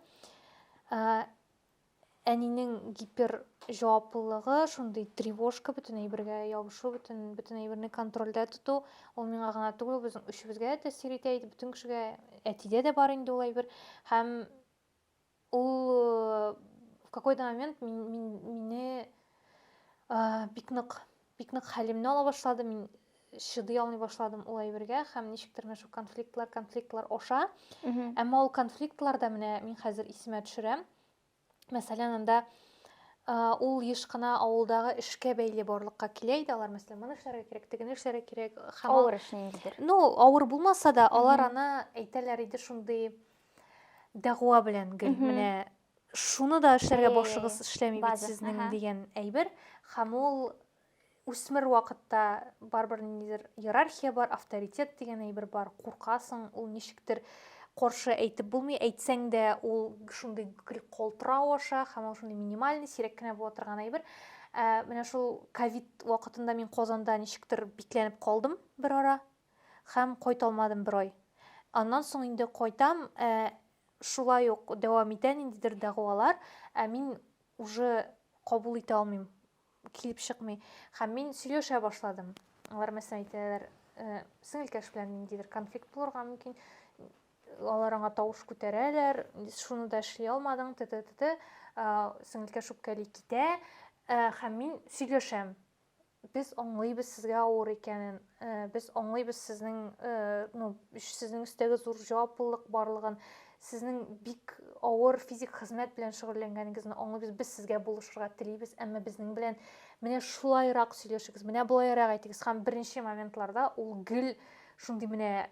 Әнинең гипер җаваплылыгы, шундый тревожка, бөтен әйбергә ябышу, бөтен бөтен әйберне контрольдә тоту, ул миңа гына түгел, безнең өчебезгә дә тәэсир итә иде, бөтен кешегә, әтидә дә бар инде ул әйбер. Һәм Ул в какой-то момент мине бик нык бик нык хәлемне ала башлады мин чыдый алмый башладым ул әйбергә һәм ничектер менә шул конфликтлар конфликтлар аша әмма ул конфликтлар да менә мин хәзер исемә төшерәм мәсәлән анда ул еш кына авылдагы эшкә бәйле барлыкка килә иде алар мәсәлән моны эшләргә кирәк тегене эшләргә кирәк һәм авыр эш ниндидер ну авыр булмаса да алар аны әйтәләр иде шундый дәгъва белән гел менә шуны да эшләргә башыгыз эшләми бит сезнең дигән әйбер һәм ул үсмер вакытта барыбер ниндидер иерархия бар авторитет дигән әйбер бар куркасың ул ничектер каршы әйтеп булмый әйтсәң дә ул шундый калтырау аша һәм ул шундый минимальный сирәк кенә була торган әйбер ә, менә шул ковид вакытында мин казанда ничектер бикләнеп калдым бер ара һәм кайталмадым бер ай. Аннан соң инде кайтам, ә шулай ук дәвам итә ниндидер дәгъвалар, ә мин уже кабул итә алмыйм, килеп чыкмый. Һәм мин сөйләшә башладым. Алар мәсәлән әйтәләр, сеңелкәш белән ниндидер конфликт булырга мөмкин, алар аңа тавыш күтәрәләр, шуны да эшли алмадың, т.т. Сеңелкәш үпкәли китә, һәм мин сөйләшәм. Без аңлыйбыз сезгә авыр икәнен, без аңлыйбыз сезнең, ну, сезнең өстәге зур җаваплылык барлыгын, сезнең бик авыр физик хезмәт белән шөгыльләнгәнегезне аңлыйбыз, без сезгә булышырга телибез, әмма безнең белән менә шулайрак сөйләшегез, менә болайрак әйтегез. Һәм беренче моментларда ул гел шундый менә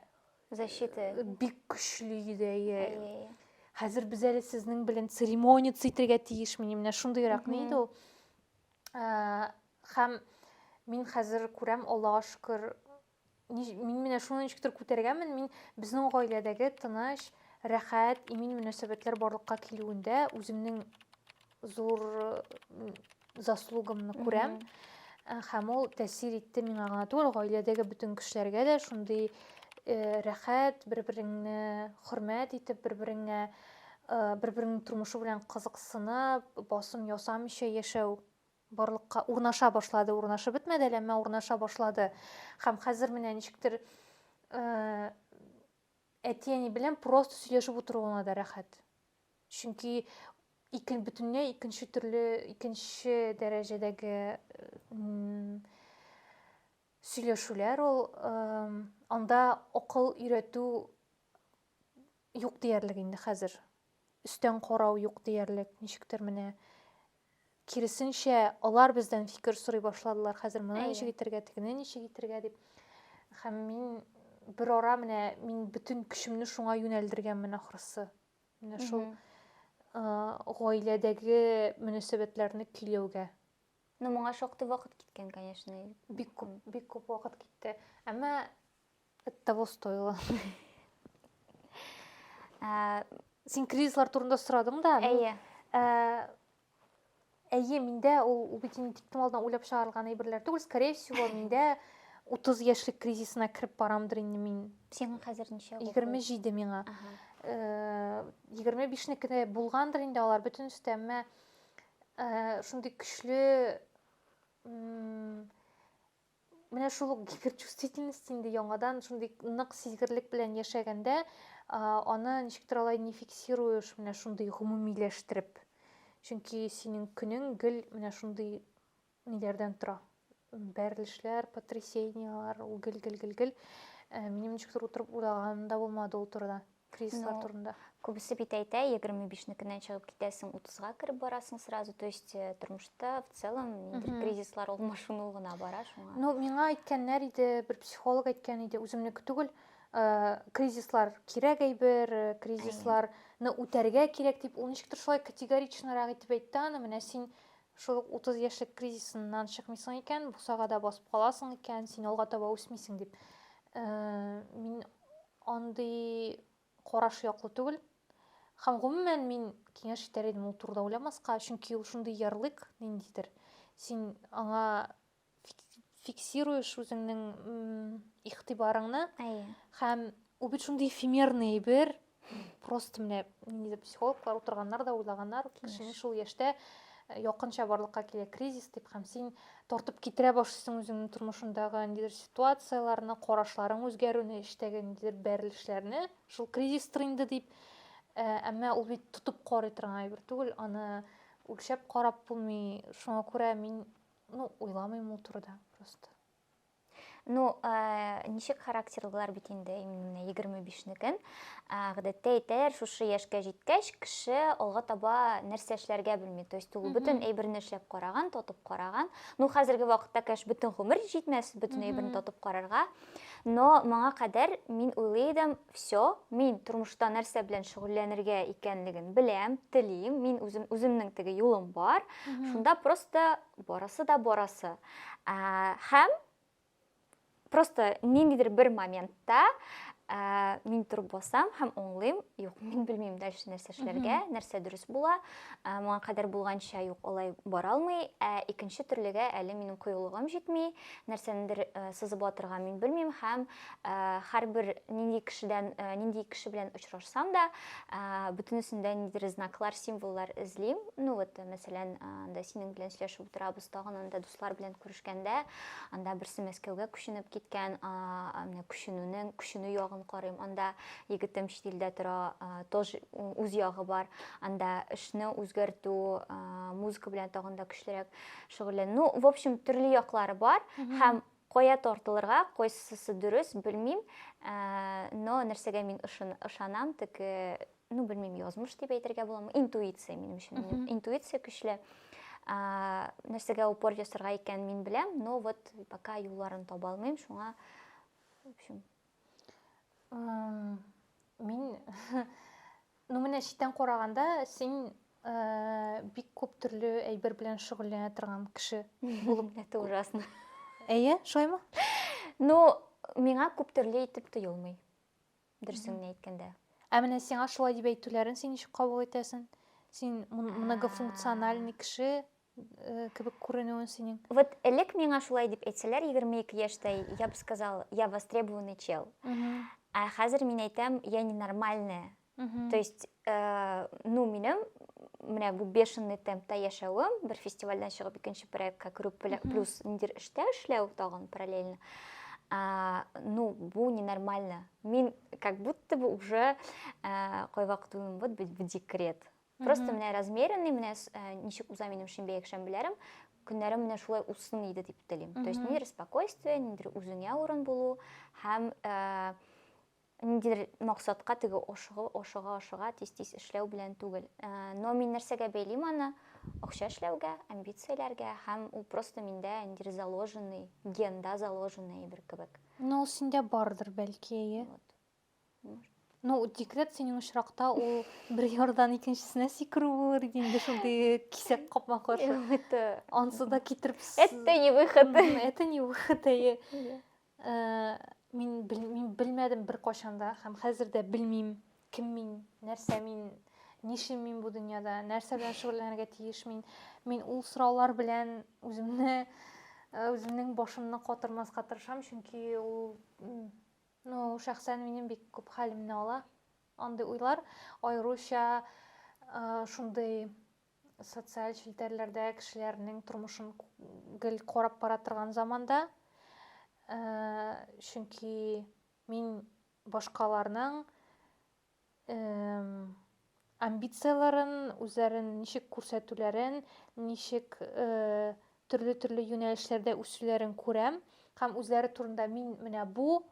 защита э, бик көчле иде. Хәзер без әле сезнең белән церемония итәргә тиешмени, менә шундыйрак ни иде ул. Хәм мин хәзер күрәм, Аллага шөкер, мин менә шуны ничектер күтәргәнмен, мин безнең гаиләдәге тыныч, рәхәт, имин мөнәсәбәтләр барлыкка килүендә үземнең зур заслугымны күрәм. Хәм ул тәсир итте миңа гына түгел, гаиләдәге бөтен кешеләргә дә шундый э, рәхәт, бер-береңне хөрмәт итеп, бер-береңә бер-береңнең тормышы белән кызыксынып, басым ясамыйча яшәү барлыкка урнаша башлады, урнашып бетмәде әле, әмма урнаша башлады. Һәм хәзер менә ничектер әти-әни белән просто сөйләшеп утыру гына да рәхәт. Чөнки икен бөтенләй икенче төрле, икенче дәрәҗәдәге сөйләшүләр ул анда акыл өйрәтү юк диярлек инде хәзер. Өстән карау юк диярлек. Ничектер менә киресенчә алар бездән фикер сорый башладылар. Хәзер моны ничек итәргә, тегене ничек итәргә дип. Һәм мин бер ара менә мин бөтен көчемне шуңа юнәлдергәнмен ахрысы. Менә шул гаиләдәге мөнәсәбәтләрне көйләүгә. Ну, моңа шактый вакыт киткән, конечно. Бик күп, бик күп вакыт китте. Әмма Это того стоило. Ә, син кризислар турында сорадың да. Әйе. Ә, әйе, миндә ул, ул бит инде тиктем алдына уйлап чыгарылган әйберләр түгел. Скорее всего, миндә 30 яшьлек кризисына кереп барамдыр инде мин. Сиңа хәзер ничә? 27 миңа. Ага. Э, егерме бишнеке дә булгандыр инде алар бөтенесе дә әмма э, шундый көчле менә шул ук гиперчувствительность инде яңадан шундый нык сизгерлек белән яшәгәндә аны ничектер алай не фиксируешь менә шундый гомумиләштереп чөнки синең көнең гел менә шундый ниләрдән тора бәрелешләр потрясениялар ул гел гел гел гел э, минем ничектер утырып уйлаганым да булмады ул турыда Кризислар ну, турында. Күбесе бит әйтә, 25-некеннән чыгып китәсең, 30-га кереп барасың сразу. То есть э, тормышта в целом ниндидер кризислар ул машину гына бара шуңа. Ну, миңа әйткәннәр иде, бер психолог әйткән иде, үземнеке түгел, э, кризислар кирәк әйбер, э, кризисларны үтәргә кирәк дип, ул ничектер шулай категоричнарак итеп әйтте аны, менә син шул 30 яшьлек кризисыннан чыкмыйсың икән, бусагада басып каласың икән, син алга таба үсмисең дип. Э, мин Андый караш яклы түгел. Һәм гомумән мин киңәш итәр идем ул турыда уйламаска, чөнки ул шундый ярлык ниндидер. Син аңа фиксируешь үзеңнең игътибарыңны. Әйе. Һәм ул бит шундый эфемерный бер просто менә ниндидер психологлар утырганнар да уйлаганнар, кешенең шул яшьтә якынча барлыкка килә кризис дип һәм син тартып китерә башлыйсың үзеңнең тормышындагы ниндидер ситуацияләрне, карашларың үзгәрүне, эштәге ниндидер бәрелешләрне. Шул кризистыр инде дип, э, әмма ул бит тотып карый торган әйбер түгел, аны үлчәп карап булмый. Шуңа күрә мин, ну, уйламыйм ул турыда просто. Ну, э, ничек характерлылар бит инде, именно менә 25-некен. Гадәттә әйтәләр, шушы яшькә җиткәч, кеше алга таба нәрсә эшләргә белми. То есть ул бөтен әйберне эшләп караган, тотып караган. Ну, хәзерге вакытта, конечно, бөтен гомер җитмәс бөтен әйберне тотып карарга. Но моңа кадәр мин уйлый идем, все, мин тормышта нәрсә белән шөгыльләнергә икәнлеген беләм, телим, мин үзем үземнең теге юлым бар. Шунда просто Барасы да барасы. Ә, һәм просто ниндидер бер моментта ә, мин торып басам һәм оңлыйм, юк, мин белмим дальше нәрсә эшләргә, нәрсә дөрес була, ә, моңа кадәр булганча юк, алай бара алмый, ә икенче төрлегә әле минем кыюлыгым җитми, нәрсәнедер ә, сызып атырга мин белмим һәм һәрбер нинди кешедән нинди кеше белән очрашсам да бөтенесендә ниндидер знаклар символлар эзлим ну вот мәсәлән анда синең белән сөйләшеп утырабыз тагын анда дуслар белән күрешкәндә анда берсе мәскәүгә күченеп киткән менә күченүнең күченү ягын карыйм анда егетем чит илдә тора тоже үз ягы бар анда эшне үзгәртү музыка белән тагын да көчлерәк шөгыльләнү ну в общем төрле яклары бар һәм Кая тартылырга, кайсысы дөрес, белмим, но нәрсәгә мин ышанам, теге, ну, белмим, язмыш дип әйтергә буламы, интуиция минем өчен, интуиция көчле. Нәрсәгә упор ясарга икән мин беләм, но вот пока юлларын таба алмыйм, шуңа, в общем, мин ну менә читтән караганда син ә, бик күп төрле әйбер белән шөгыльләнә торган кеше булып это ужасно әйе шулаймы ну миңа күп төрле итеп тоелмый дөресен генә әйткәндә ә менә сиңа шулай дип әйтүләрен син ничек кабул итәсең син многофункциональный кеше э, кебек күренүен синең. Вот элек миңа шулай дип әйтсәләр, 22 яшьтә, я бы сказал, я востребованный чел. Ә хәзер мин әйтәм, я ненормальная. То есть, э, ну, минем менә бу бешеный темпта яшәвем, бер фестивальдән чыгып икенче проектка керү плюс ниндер эштә эшләү тагын параллельно. А, ну, бу ненормально. Мин как будто бы уже э, кайвакыт уйлыйм, вот быть в декрет. Просто менә размеренный, менә э, ничек уза минем шимбә якшәмбеләрем, көннәрем менә шулай узсын иде дип телим. То есть ниндидер спокойствие, ниндидер үзеңә урын булу һәм э, ниндидер максатка теге ашыгы, ашыга, ашыга, тиз-тиз эшләү белән түгел. Э, но мин нәрсәгә бәйлим аны? Акча эшләүгә, амбицияләргә һәм ул просто миндә ниндидер заложенный, генда заложенный әйбер кебек. Но ул синдә бардыр бәлки, әйе. Вот. Ну, декрет синең очракта ул бер ярдан икенчесенә сикерү булыр иде инде шундый кисәк капма каршы. Это ансы да китереп. Это не выход. Это не выход. Әйе. Э, мин мин белмәдем бер кашан да һәм хәзер дә белмим, кем мин, нәрсә мин, нишлим мин бу дөньяда, нәрсә белән шөгыльләнергә тиеш мин. Мин ул сораулар белән үземне э, үземнең башымны катырмаска тырышам, чөнки ул Ну, шәхсән минем бик күп хәлемне ала андый уйлар, аеруча шундый социаль челтәрләрдә кешеләрнең тормышын гел карап бара торган заманда, чөнки мин башкаларның амбицияләрен, үзләрен ничек күрсәтүләрен, ничек төрле-төрле юнәлешләрдә үсүләрен күрәм һәм үзләре турында мин менә бу,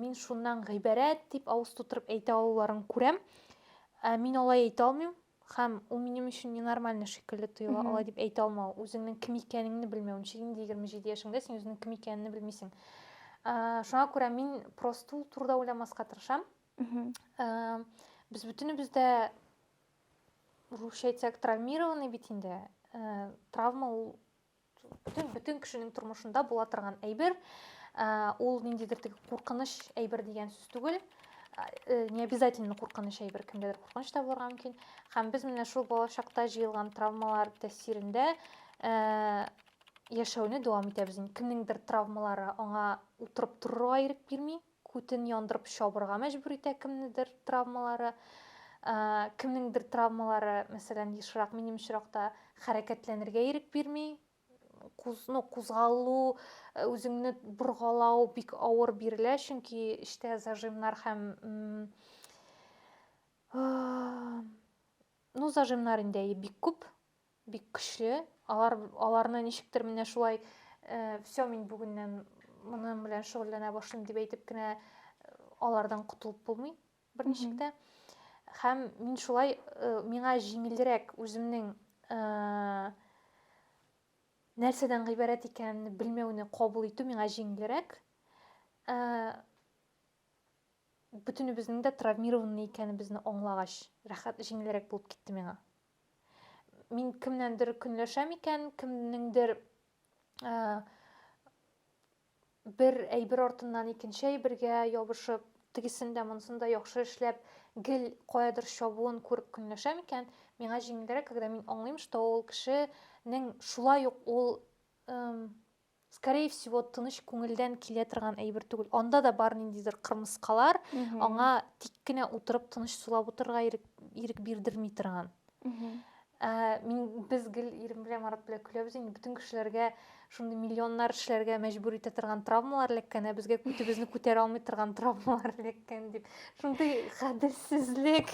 мин шуннан гыйбарәт дип авыз тутырып әйтә алуларын күрәм. Мин алай әйтә алмыйм һәм ул минем өчен ненормальный шикелле тоела, алай дип әйтә алмау, үзеңнең кем икәнеңне белмәү. Ничек инде 27 яшеңдә син үзеңнең кем икәнеңне белмисең. Шуңа күрә мин просто ул турыда уйламаска тырышам. без бөтенебез дә русча әйтсәк травмированный бит инде э, травма ул бөтен бөтен кешенең тормышында була торган әйбер э, ул ниндидер теге куркыныч әйбер дигән сүз түгел э, не обязательно куркыныч әйбер кемдәдер куркыныч та булырга мөмкин һәм без менә шул балачакта җыелган травмалар тәэсирендә яшәүне дәвам итәбез инде кемнеңдер травмалары аңа утырып торырга ирек бирми Күтен яндырып чабырга мәҗбүр итә кемнедер травмалары. Ә, кемнеңдер травмалары, мәсәлән, ешрак минем очракта хәрәкәтләнергә ирек бирми. Куз, ну, кузгалу, э, үзеңне боргалау бик авыр бирелә, чөнки эчтә зажимнар һәм м, э, ну, зажимнар инде әйе, бик күп. Бик көчле. Алар аларны ничектер менә шулай э, все мин бүгеннән моның белән шөгыльләнә башлыйм дип әйтеп кенә э, алардан котылып булмый берничек тә. Һәм мин шулай э, миңа җиңелрәк үземнең э, нәрсәдән гыйбарәт икәнен белмәүне кабул итү миңа җиңелрәк. Э, бөтенебезнең дә травмированный икәнебезне аңлагач, рәхәт җиңелрәк булып китте миңа. Мин кемнәндер көнләшәм икән, кемнеңдер ә, бер әйбер артыннан икенче әйбергә ябышып, тегесен дә монысын да яхшы эшләп, гел каядыр чабуын күреп көнләшәм икән, миңа җиңелрәк, когда мин аңлыйм, что ул кешенең шулай ук ул эм, скорее всего тыныч күңелдән килә торган әйбер түгел анда да бар ниндидер кырмыскалар аңа тик кенә утырып тыныч сулап утырырга ирек, ирек бирдерми торган ә, мин без гел ирем белән марат белән көләбез инде бөтен кешеләргә шундый миллионнар эшләргә мәҗбүр итә торган травмалар эләккән ә безгә күтебезне күтәрә алмый торган травмалар эләккән дип Шундый гаделсезлек.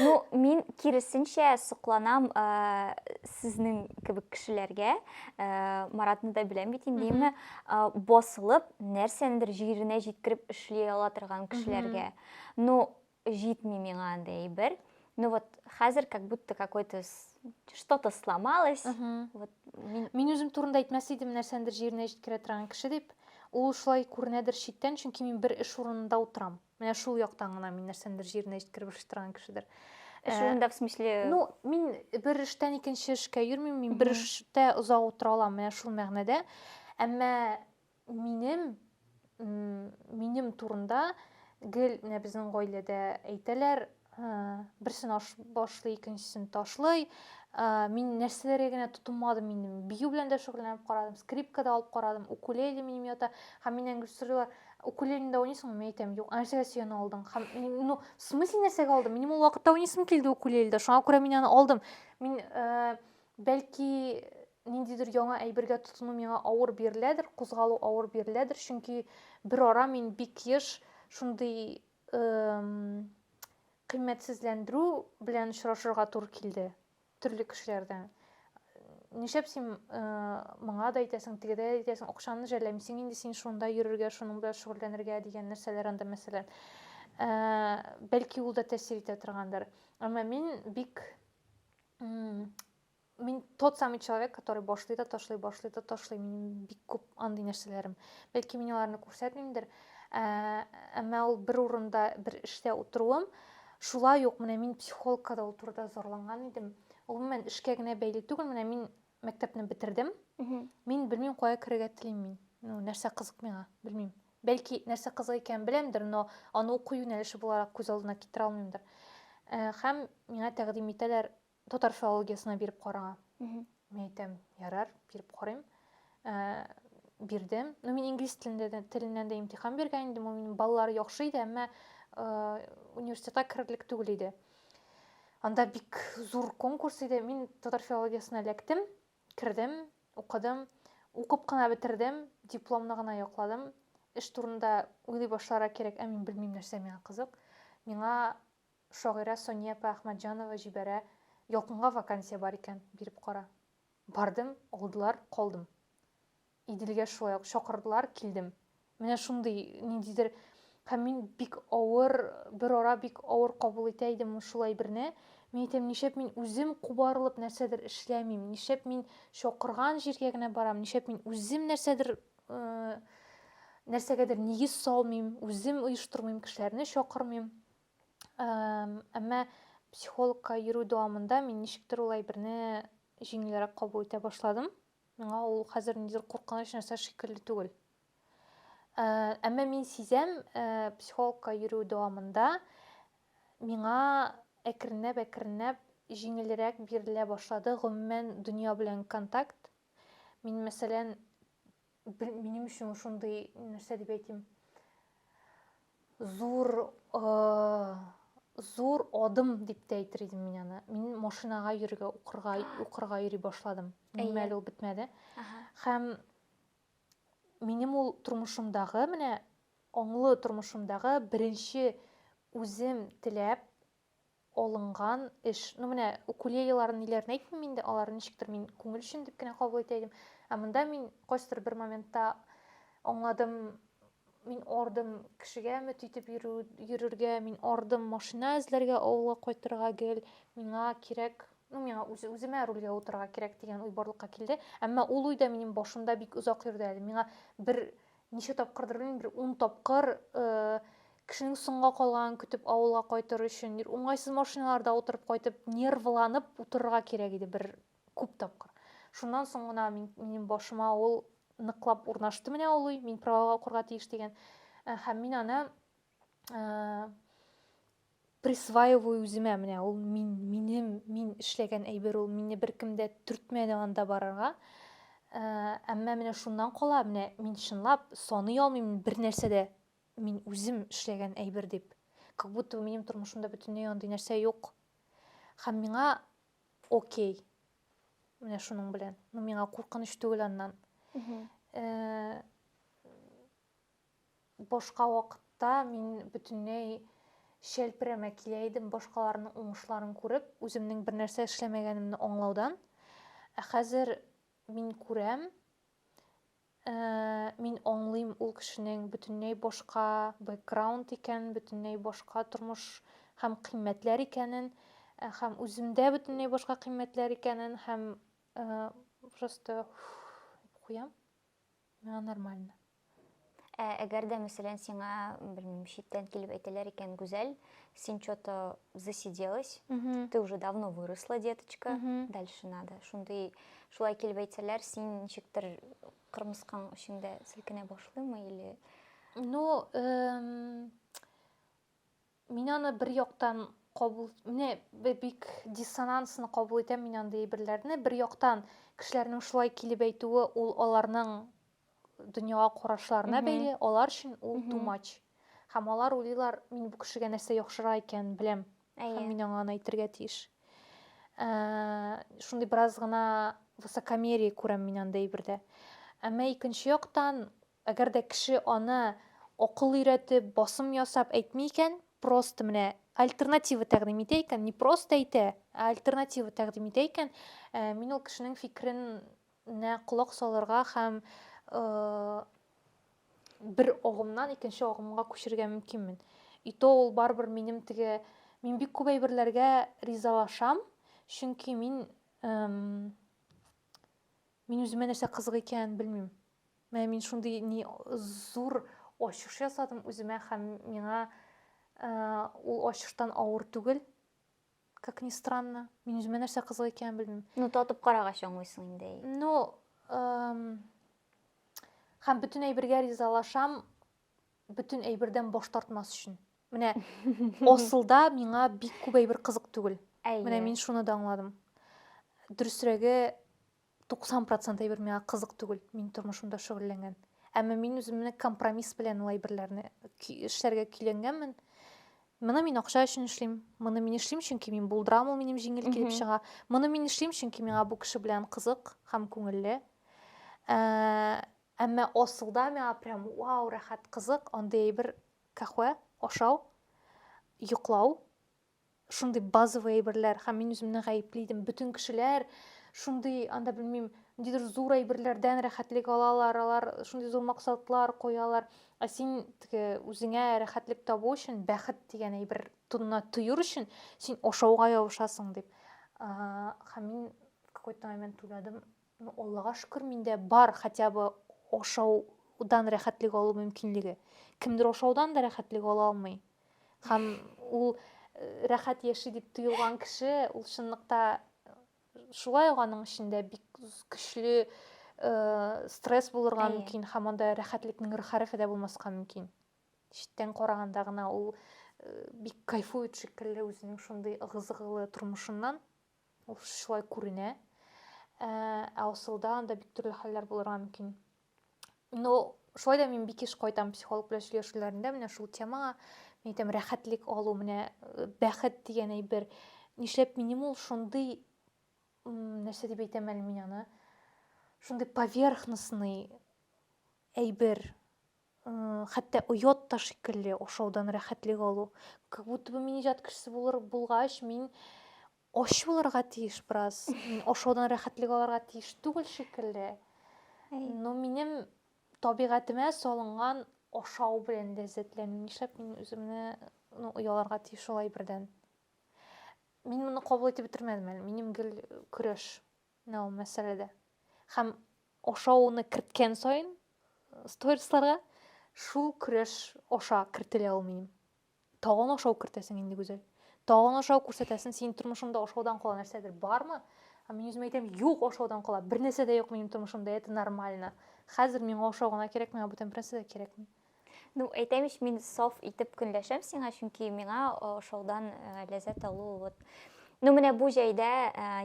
Ну, мин киресенчә сокланам ә, э, сезнең кебек кешеләргә. Ә, э, Маратны да беләм бит инде, ә, э, басылып, нәрсәндер җиренә җиткереп эшли ала торган кешеләргә. Ну, җитми миңа андый әйбер. ну вот хәзер как будто какой то что то сломалось вот мин үзем турында әйтмәс идем нәрсәндер җиренә җиткерә торган кеше дип ул шулай күренәдер читтән чөнки мин бер эш урынында утырам менә шул яктан гына мин нәрсәндер җиренә җиткереп эшли торган кешедер эш э, урында в смысле ну мин бер эштән икенче эшкә йөрмим мин бер эштә озак утыра алам менә шул мәгънәдә әмма Минем, минем турында гел менә безнең гаиләдә әйтәләр, берсен аш башлый, икенчесен ташлый. Мин нәрсәләргә генә тотынмадым, минем бию белән дә шөгыльләнеп карадым, скрипка да алып карадым, укулеле минем ята. Һәм миннән гел сорыйлар, укулелене дә уйныйсыңмы? Мин әйтәм, юк, нәрсәгә син алдың? Һәм, ну, в смысле нәрсәгә алдым? Минем ул вакытта уйныйсым килде укулеледә, шуңа күрә мин аны алдым. Мин, бәлки, Ниндидер яңа әйбергә тотыну миңа авыр биреләдер, кузгалу авыр биреләдер, чөнки берара мин бик еш шундый кыйммәтсезләндерү белән очрашырга туры килде төрле кешеләрдән. Нишләп син моңа да әйтәсең, тегедә дә әйтәсең, акчаны жәлләмисең инде син шунда йөрергә, шуның белән шөгыльләнергә дигән нәрсәләр анда мәсәлән. Бәлки ул да тәэсир итә торгандыр. Әмма мин бик мин тот самый человек который башлый да ташлый башлый да ташлый минем бик күп андый нәрсәләрем бәлки мин аларны күрсәтмимдер ә, әмма ул бер урында бер эштә утыруым шулай ук менә мин психологка да ул турыда зарланган идем гомумән эшкә генә бәйле түгел менә мин мәктәпне бетердем мин белмим кая керергә телим мин ну нәрсә кызык миңа белмим бәлки нәрсә кызык икәнен беләмдер но аны уку юнәлеше буларак күз алдына китерә алмыймдыр һәм миңа тәкъдим итәләр Татар филологиясенә биреп караңа. Мин әйтәм, ярар, биреп карыйм. Ә, бирдем. Ну, мин инглиз телендә дә, теленнән дә имтихан биргән идем. Ул минем балалары яхшы иде, әмма э, университетка керерлек түгел иде. Анда бик зур конкурс иде. Мин татар филологиясенә эләктем, кердем, укыдым. Укып кына бетердем, дипломны гына якладым. Эш турында уйлый башларга кирәк, ә мин белмим нәрсә миңа кызык. Миңа Шагыйрә Сания апа Әхмәтҗанова җибәрә, Ялкынга вакансия бар икән, биреп кара. Бардым, алдылар, калдым. Иделгә шулай ук чакырдылар, килдем. Менә шундый ниндидер Һәм мин бик авыр, берара бик авыр кабул итә идем шул әйберне. Мин әйтәм, нишләп мин үзем кубарылып нәрсәдер эшләмим, нишләп мин чакырган җиргә генә барам, нишләп мин үзем нәрсәдер нәрсәгәдер нигез салмыйм, үзем оештырмыйм, кешеләрне чакырмыйм. Әмма психологка йөрү дәвамында мин ничектер ул әйберне җиңелрәк кабул итә башладым. Миңа ул хәзер нидер куркыныч нәрсә шикелле түгел. Әмма мин сизәм, психологка йөрү дәвамында миңа әкренләп-әкренләп җиңелрәк бирелә башлады гомумән дөнья белән контакт, Мин, мәсәлән, минем өчен шундый нәрсә дип әйтим. Зур зур адым дип тә әйтер идем мин аны. Мин машинага йөрергә, укырга, укырга йөри башладым. Минем әле ул бетмәде. Һәм минем ул тормышымдагы, менә аңлы тормышымдагы беренче үзем теләп алынган эш. Ну, менә укулелеларын ниләрен әйтмим инде, аларны ничектер мин күңел өчен дип кенә кабул итә идем. Ә монда мин кайсыдыр бер моментта аңладым, мин ардым кешегә өмет итеп йөрү, йөрергә, мин ардым машина эзләргә, авылга кайтырга гел, миңа кирәк, ну, миңа үз, үземә рульгә утырырга кирәк дигән уй барлыкка килде. Әмма ул уй да минем башымда бик озак йөрде әле. Миңа бер Ничә тапкырдыр белмим, бер ун тапкыр кешенең соңга калганын көтеп авылга кайтыр өчен уңайсыз машиналарда утырып кайтып нервланып утырырга кирәк иде бер күп тапкыр шуннан соң гына минем башыма ул ныклап урнашты менә ул уй мин правага укырга тиеш дигән һәм мин аны присваиваю үземә менә ул мин минем мин эшләгән әйбер ул мине беркем дә төртмәде анда барырга ә, әмма менә шуннан кала менә мин чынлап саный алмыйм бер нәрсә дә мин үзем эшләгән әйбер дип как будто минем тормышымда бөтенләй андый нәрсә юк һәм миңа окей менә шуның белән ну миңа куркыныч түгел аннан э, Башка вакытта мин бөтенләй чәлперәмә килә идем, башкаларның уңышларын күреп, үземнең бернәрсә эшләмәгәнемне аңлаудан. Ә хәзер мин күрәм, э, мин аңлыйм ул кешенең бөтенләй башка бэкграунд икәнен, бөтенләй башка тормыш һәм кыйммәтләр икәнен, э, һәм үземдә бөтенләй башка кыйммәтләр икәнен, һәм, э, просто, уф, дип куям. Миңа нормально. Ә әгәр дә, мәсәлән, сиңа, белмим, читтән килеп әйтәләр икән, Гүзәл, син что-то засиделась, ты уже давно выросла, деточка, дальше надо. Шундый, шулай килеп әйтсәләр, син ничектер кырмыскаң эчеңдә селкенә башлыймы или Ну, эм, Мин аны бер яктан кабул, менә бик диссонансно кабул итәм мин андый әйберләрне. Бер яктан кешеләрнең шулай килеп әйтүе, ул аларның дөньяга карашларына бәйле, алар өчен ул too much. Һәм алар уйлыйлар, мин бу кешегә нәрсә яхшырак икәнен беләм, һәм мин аңа аны әйтергә тиеш. Ә, шундый бераз гына высокомерие күрәм мин андый әйбердә. Әмма икенче яктан, Әгәр дә кеше аны акыл өйрәтеп, басым ясап әйтми икән, просто менә альтернатива тәкъдим итә икән, не просто әйтә, ә альтернатива тәкъдим итә икән, мин ул кешенең фикеренә колак салырга һәм бер агымнан икенче агымга күчергә мөмкинмен. И то ул барыбер минем теге мин бик күп әйберләргә ризалашам, чөнки мин мин үземә нәрсә кызык икәнен белмим. Менә мин шундый ни зур ачыш ясадым үземә һәм миңа э, ул ачыштан авыр түгел. Как ни странно. Мин үземә нәрсә кызык икәнен белмим. Ну, татып карагач аңлыйсың инде. Ну, эм, һәм бөтен әйбергә ризалашам, бөтен әйбердән баш тартмас өчен. Менә асылда миңа бик күп әйбер кызык түгел. Әйе. Менә мин шуны да аңладым. Дөресрәге, 90 процент әйбер миңа кызык түгел, мин тормышымда шөгыльләнгән. Әмма мин үземне компромисс белән ул әйберләрне эшләргә көйләнгәнмен. Моны мин акча өчен эшлим. Моны мин эшлим, чөнки мин булдырам, ул минем җиңел килеп чыга. Моны мин эшлим, чөнки миңа бу кеше белән кызык һәм күңелле. Ә, әмма асылда миңа прям вау, рәхәт, кызык, андый әйбер кахвә, ашау, йоклау, шундый базовый әйберләр һәм мин үземне гаепле идем бөтен кешеләр шундый анда белмим ниндидер зур әйберләрдән рәхәтлек алалар алар шундый зур максатлар куялар ә син теге үзеңә рәхәтлек табу өчен бәхет дигән әйбер тонына төер өчен син ашауга ябышасың дип һәм мин какой то момент уйладым Ну, Аллага шөкер, миндә бар хотя бы ашаудан рәхәтлек алу мөмкинлеге. Кемдер ашаудан да рәхәтлек ала алмый. Һәм ул э, рәхәт яши дип тоелган кеше, ул чынлыкта э, шулай ук аның эчендә бик көчле э, стресс булырга Әйе. мөмкин һәм анда рәхәтлекнең рхәрефе дә булмаска мөмкин. Читтән караганда гына ул э, бик кайфует шикелле үзенең шундый ыгы-зыгылы тормышыннан. Ул шулай күренә. Ә, ә асылда анда бик төрле хәлләр булырга мөмкин. Но шулай да мин бик еш кайтам психолог белән сөйләшүләрендә менә шул темага. Мин әйтәм, рәхәтлек алу, менә э, бәхет дигән әйбер. Нишләп минем ул шундый, нәрсә дип әйтәм әле мин аны, шундый поверхностный әйбер. Хәтта оят та шикелле ашаудан рәхәтлек алу. Как будто бы мин иҗат кешесе булыр булгач, мин ач булырга тиеш бераз. Мин ашаудан рәхәтлек алырга тиеш түгел шикелле. Но минем табигатемә салынган ашау белән ләззәтләнү. Нишләп мин үземне ну, ояларга тиеш шул әйбердән? Мин моны кабул итеп бетермәдем әле. Минем гел көрәш. Нау мәсьәләдә. Һәм ашауны керткән саен сторисларга шул көрәш аша кертелә ул минем. Тагын ашау кертәсең инде, Гүзәл. Тагын ашау күрсәтәсен, синең тормышыңда ашаудан кала нәрсәдер бармы? Ә мин үзем әйтәм, юк ашаудан кала, бер нәрсә дә юк минем тормышымда, это нормально. Хәзер миңа ашау гына кирәк, миңа бүтән бернәрсә дә кирәкми. Ну, әйтәм ич, мин саф итеп көнләшәм сиңа, чөнки миңа ошаудан ләззәт алу вот Ну, менә бу җәйдә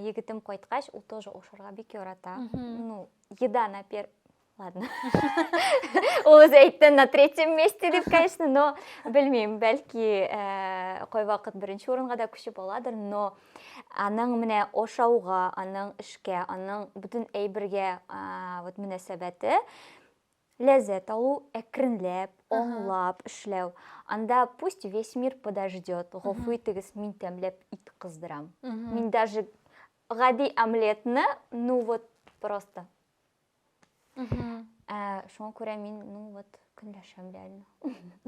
егетем кайткач, ул тоже ошарга бик ярата. Ну, еда на пер Ладно. Ул үзе әйтте на третьем месте дип, конечно, но белмим, бәлки э, кой вакыт беренче урынга да күчеп аладыр, но аның менә ошауга, аның эшкә, аның бүтән әйбергә вот мөнәсәбәте Ләззәт алу, әкренләп, аңлап эшләү. Анда пусть весь мир подождет, гафу итегез, мин тәмләп ит кыздырам. Мин даже гади омлетны, ну вот просто. Ә, шуңа күрә мин, ну вот, көнләшәм реально.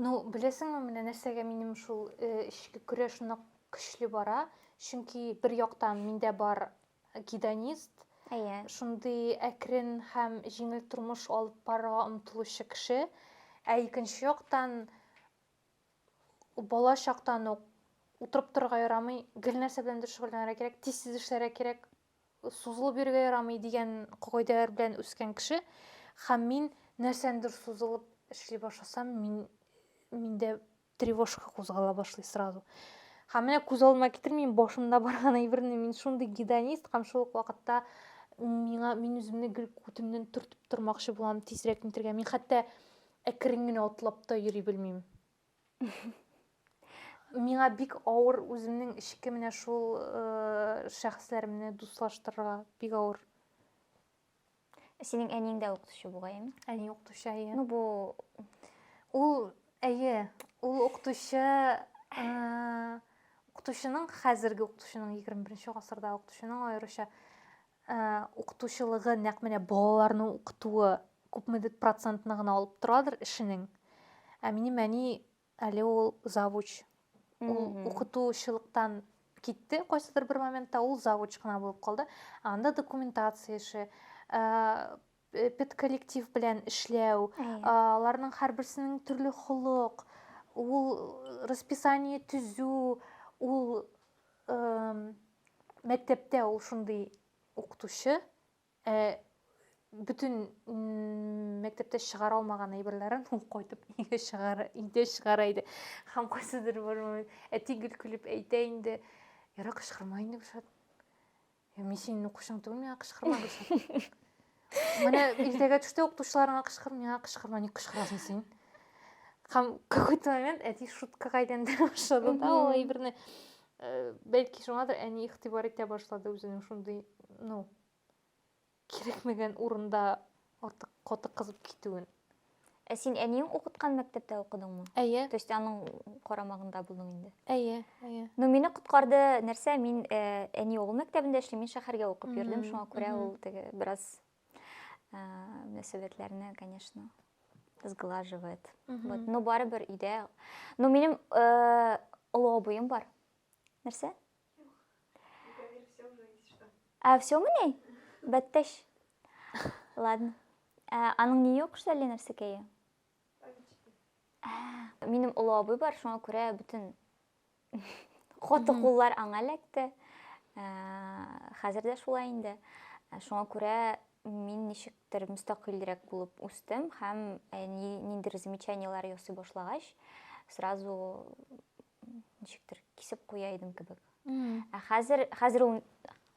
Ну, беләсеңме, менә нәрсәгә минем шул э, эчке көрәш нык көчле бара? Чөнки бер яктан миндә бар гедонист, Әйе. шундый әкрен һәм җиңел тормыш алып барырга омтылучы кеше. Ә икенче яктан, бала чактан ук утырып торырга ярамый, гел нәрсә беләндер шөгыльләнергә кирәк, тиз-тиз эшләргә кирәк, сузылып йөрергә ярамый дигән кагыйдәләр белән үскән кеше. Һәм мин нәрсәнедер сузылып эшли башласам, мин миндә тревожка кузгала башлый сразу һәм менә күз алдыма китермим башымда барган әйберне мин шундый гедонист һәм шул ук вакытта миңа мин үземне гел күтемнән төртеп тормакчы булам тизрәк нитергә мин хәтта әкрен генә атлап та йөри белмим миңа бик авыр үземнең эчке менә шул э, шәхесләремне дуслаштырырга бик авыр Синең әниең дә укытучы бугай. Әни укытучы, әйе. Ну бу ул әйе, ул укытучы укытучының хәзерге укытучының 21 гасырда укытучының аеруча укытучылыгы нәкъ менә балаларны укытуы күпмедер процентны гына алып торадыр эшенең. Ә минем әни Әле ул завуч. Ул укытучылыктан китте, кайсыдыр бер моментта ул завуч кына булып калды. Анда документация эше, педколлектив белән эшләү, аларның һәрберсенең төрле холык, ул расписание төзү, ул мәктәптә ул шундый укытучы, Ә бөтен мәктәптә чыгара алмаган әйберләрен ул кайтып өйгә чыгара, өйдә чыгара иде. Һәм кайсыдыр бер момент әти гел көлеп әйтә инде, Яра кычкырма инде Гөлшат. Я мин синең укучың түгел, миңа кычкырма Гөлшат. Менә иртәгә төштә укытучыларыңа кычкыр, миңа кычкырма, ник кычкырасың син? Һәм какой-то момент әти шуткага әйләндерә башлады да ул әйберне. Э, бәлки шуңадыр әни игътибар итә башлады үзенең шундый, ну, кирәкмәгән урында артык каты кызып китүен. Ә син әниең укыткан мәктәптә укыдыңмы? Әйе. То есть аның карамагында булдың инде. Әйе, әйе. Ну мине коткарды нәрсә, мин э, әни угыл мәктәбендә эшлим, мин шәһәргә укып йөрдем, шуңа күрә ул теге бераз э, мөнәсәбәтләрне, конечно, сглаживает. Вот, но барыбер өйдә. Но минем э, олы абыем бар. Нәрсә? А все мы ней? Бәттәш. Ладно. Ә, аның ни юк шулай нәрсә кәе? Минем олы абый бар, шуңа күрә бөтен хаты куллар аңа эләкте. Хәзер дә шулай инде. Шуңа күрә мин ничектер мөстәкыйлрәк булып үстем һәм э, ниндер замечаниеләр ясый башлагач, сразу ничектер кисеп куя идем кебек ә хәзер хәзер ул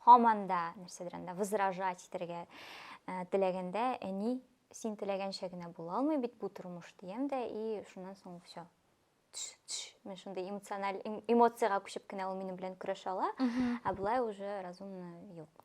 һаман да нәрсәдер анда возражать итәргә э, теләгәндә әни син теләгәнчә генә була алмый бит бу тормыш дигән дә и шуннан соң все мен шундай эмоциональ эмоцияга күчеп кенә ул минем белән көрәшә ала ә болай уже разумно юк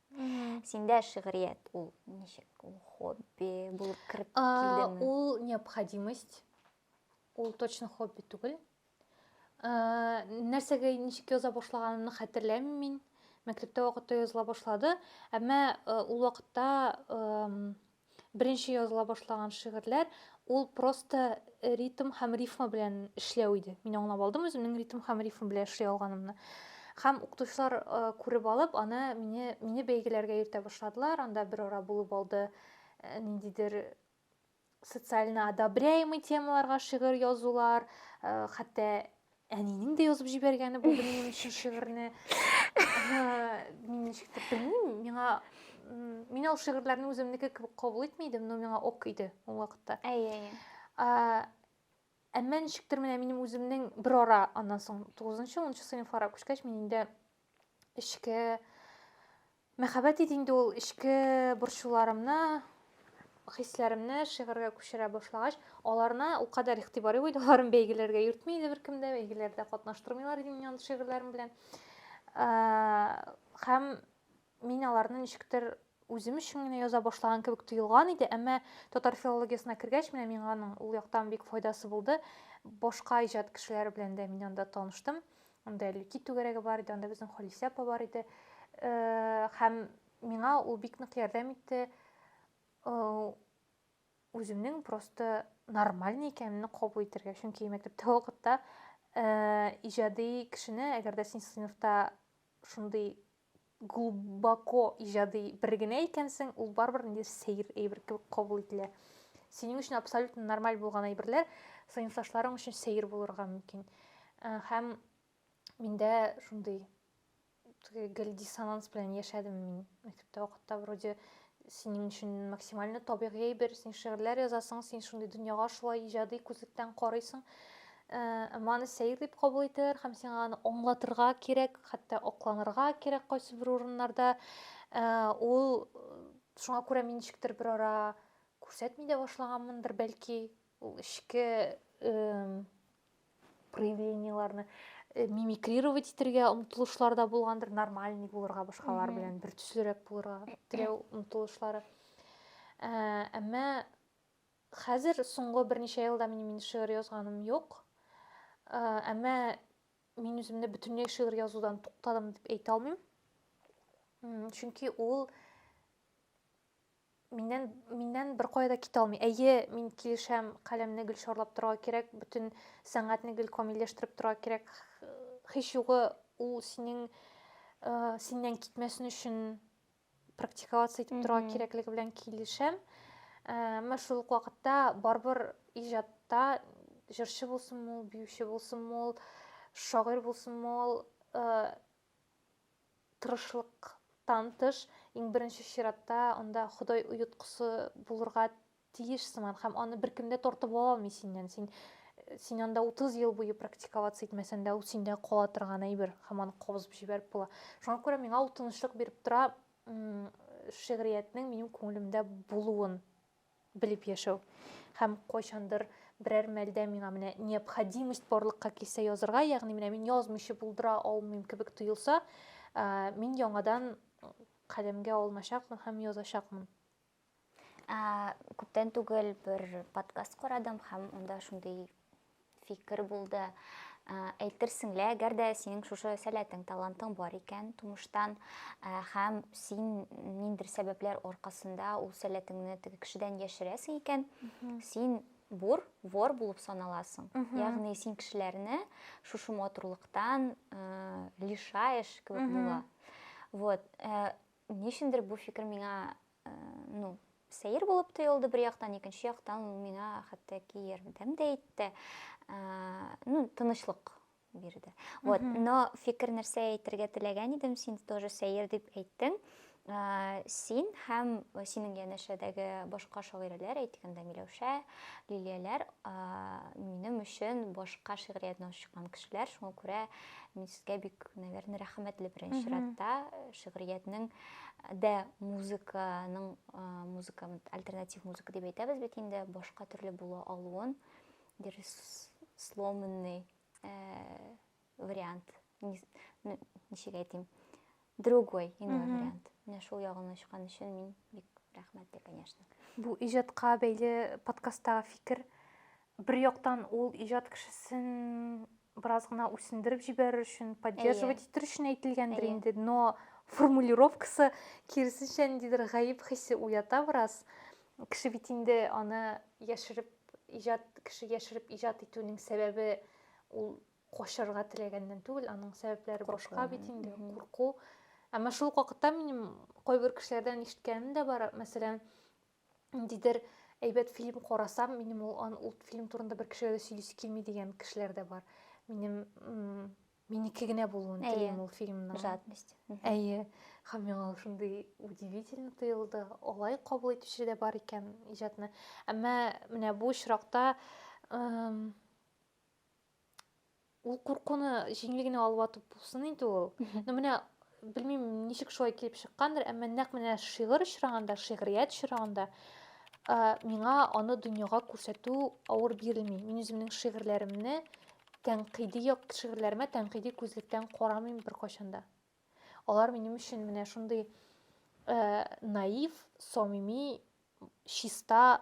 синдә шигърият ул ничек ул хобби булып кереп килдеме ул необходимость ул точно хобби түгел ә, нәрсәгә ничек яза башлаганымны хәтерләмим мин мәктәптә вакытта языла башлады әмма ә, ул вакытта ә, беренче языла башлаган шигырьләр, ул просто ритм һәм рифма белән эшләү иде. Мин аңлап алдым үземнең ритм һәм рифм белән эшли алганымны. Һәм укытучылар э, күреп алып, аны мине, мине бәйгеләргә йөртә башладылар, анда бер ара булып алды э, ниндидер социально одобряемый темаларга шигырь язулар, э, хәтта әнинең дә язып җибәргәне бу минем өчен шигырьне мин ничектер белмим миңа мин ул шигырьләрне үземнеке кебек кабул итми идем но миңа ок иде ул вакытта әйе әйе әмма ничектер менә минем үземнең бер ара аннан соң тугызынчы унынчы сыйныфларга күчкәч мин инде эчке Мәхәббәт иде инде ул эчке борчуларымны, хисләремне шигырьгә күчерә башлагач, аларына ул кадәр игътибар юк иде, аларын бәйгеләргә йөртми иде беркем дә, бәйгеләрдә катнаштырмыйлар иде мине андый шигырьләрем белән. Һәм мин аларны ничектер үзем өчен генә яза башлаган кебек тоелган иде, әмма татар филологиясенә кергәч, менә миңа аның ул яктан бик файдасы булды. Башка иҗат кешеләре белән дә мин анда таныштым. Анда Әллүки түгәрәге бар иде, анда безнең Халисә апа бар иде. Һәм миңа ул бик нык ярдәм итте. Үземнең просто нормальный икәнемне кабул итәргә. Чөнки мәктәптә вакытта иҗади кешене, әгәр дә син сыйныфта шундый глубоко иҗади бер генә икәнсең, ул барыбер инде сәер әйбер кебек кабул ителә. Синең өчен абсолютно нормаль булган әйберләр сыйныфташларың өчен сәер булырга мөмкин. Э, һәм миндә шундый гел диссонанс белән яшәдем мин мәктәптә вакытта вроде Синең өчен максимально табигый әйбер, син шигырьләр язасың, син шундый дөньяга шулай иҗади күзлектән карыйсың. Әмма аны сәер дип кабул итәләр һәм сиңа аны аңлатырга кирәк, хәтта акланырга кирәк кайсы бер урыннарда. Ул шуңа күрә мин ничектер бер ара күрсәтми дә башлаганмындыр, бәлки, ул эчке проявлениеларны э, мимикрировать итәргә омтылышлар да булгандыр нормальный булырга башкалар белән бер төслерәк булырга теләү омтылышлары ә, әмма хәзер соңгы берничә елда мин мин шигырь язганым юк ә, әмма мин үземне бөтенләй шигырь язудан туктадым дип әйтә алмыйм чөнки ул Миннән, миннән бер кая да китә алмый. Әйе, мин килешәм, каләмне гел шарлап торга кирәк, бөтен сәнгатьне гел камилләштереп торга кирәк. Һич югы ул синең э, синнән китмәсен өчен практиковаться итеп торга кирәклеге белән килешәм. Э, Әмма шул ук вакытта барыбер иҗатта җырчы булсынмы ул, биюче булсынмы ул, шагыйрь булсынмы ул, э, тырышлыктан тыш, иң беренче чиратта анда Ходай оеткысы булырга тиеш сыман, һәм аны беркем дә тартып ала алмый синнән. Син син анда 30 ел буе практиковаться итмәсәң дә, ул синдә кала торган әйбер, һәм аны кабызып җибәреп була. Шуңа күрә миңа ул тынычлык биреп тора, шигъриятнең минем күңелемдә булуын. белеп яшәү һәм кайчандыр берәр мәлдә миңа менә необходимость барлыкка килсә язырга, ягъни менә мин язмыйча булдыра алмыйм кебек тоелса, мин яңадан каләмгә алыначакмын һәм язачакмын. Күптән түгел бер подкаст карадым һәм анда шундый фикер булды. Әйтерсең лә, әгәр дә синең шушы сәләтең, талантың бар икән тумыштан, һәм син ниндер сәбәпләр аркасында ул сәләтеңне теге кешедән яшерәсең икән, син бур, вор булып саналасың. Ягъни син кешеләрне шушы матурлыктан лишаешь кебек була. Вот. Ничендер бу фикер миңа ну, сәер булып тоелды бер яктан, икенче яктан ул миңа хәтта ки ярдәм дә итте. Ну, тынычлык бирде. Вот, но фикер нәрсә әйтергә теләгән идем, син тоже сәер дип әйттең. Син һәм синең янәшәдәге башка шагыйрәләр, әйтгәндә Миләүшә, Лилияләр, минем өчен башка шигъриятне ачкан кешеләр, шуңа күрә мин сезгә бик, наверное, рәхмәтле беренче чиратта шигъриятнең дә музыканың музыка альтернатив музыка дип әйтәбез бит инде башка төрле була алуын бер сломанный вариант ничек әйтим другой иной вариант менә шул ягын ачкан өчен мин бик рәхмәтле конечно бу иҗатка бәйле подкасттагы фикер бер яктан ул иҗат кешесен бераз гына үсендереп җибәрер өчен, поддерживать итер өчен әйтелгәндер инде, но формулировкасы киресенчә ниндидер гаеп хисе уята бераз. Кеше бит инде аны яшереп иҗат, кеше яшереп иҗат итүнең сәбәбе ул качарга теләгәннән түгел, аның сәбәпләре башка бит инде, курку. Әмма шул вакытта минем кайбер кешеләрдән ишеткәнем дә бар, мәсәлән, ниндидер әйбәт фильм карасам, минем ул, ан, ул фильм турында бер кешегә дә сөйлисе килми дигән кешеләр дә бар. Минем минеке генә булуын телим ул фильмның. Жадность. Әйе. Һәм миңа ул шундый удивительно тоелды. Алай кабул итүче дә бар икән иҗатны. Әмма менә бу очракта ул куркуны җиңел генә алып атып булсын инде ул ну менә белмим ничек шулай килеп чыккандыр әмма нәкъ менә шигырь очрагында шигърият очрагында миңа аны дөньяга күрсәтү авыр бирелми мин үземнең шигырьләремне тәнкыйди як шигырьләремә тәнкыйди күзлектән карамыйм беркайчан да алар минем өчен менә шундый наив самими чиста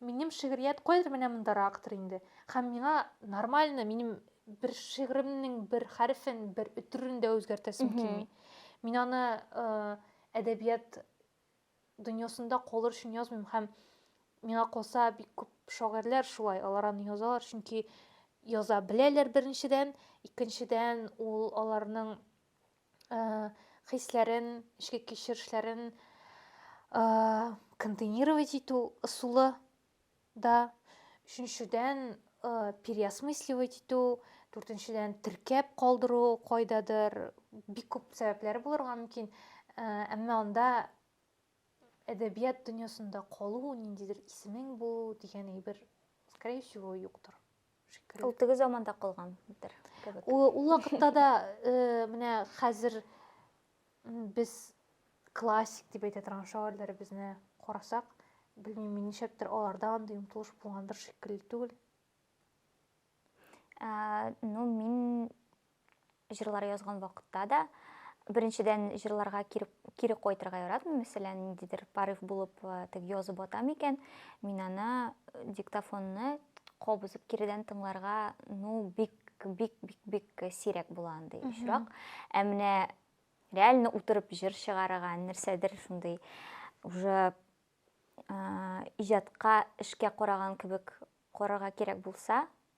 Минем шигърият кайдыр менә мондарактыр инде. Һәм миңа нормально минем бер шигъремнең бер хәрефен, бер өтерен дә үзгәртәсем килми. Мин аны әдәбият дөньясында калыр өчен язмыйм һәм миңа калса бик күп шагыйрьләр шулай, алар аны язалар, чөнки яза беләләр беренчедән, икенчедән ул аларның хисләрен, эчке кичерешләрен контейнировать итү ысулы да, өченчедән переосмысливать итү, дүртенчедән теркәп калдыру кайдадыр, бик күп сәбәпләре булырга мөмкин, әмма анда әдәбият дөньясында калу, ниндидер исемең булу дигән әйбер, скорее всего, юктыр. Шикелле. Ул теге заманда калган бер кебек. Ул, ул вакытта да э, менә хәзер без классик дип әйтә торган шагыйрьләребезне карасак, белмим, мин ничәктер аларда андый омтылыш булгандыр шикелле түгел. Ә, ну, мин Җырлар язган вакытта да беренчедән җырларга кире, кире кайтырга яратмыйм. Мәсәлән, ниндидер порыв булып тек язып ата микән, мин аны диктофонны кабызып киридән тыңларга, ну, бик бик бик бик сирәк була андый очрак. Ә менә реально утырып җыр чыгарырга, нәрсәдер шундый уже иҗатка, эшкә караган кебек карарга кирәк булса,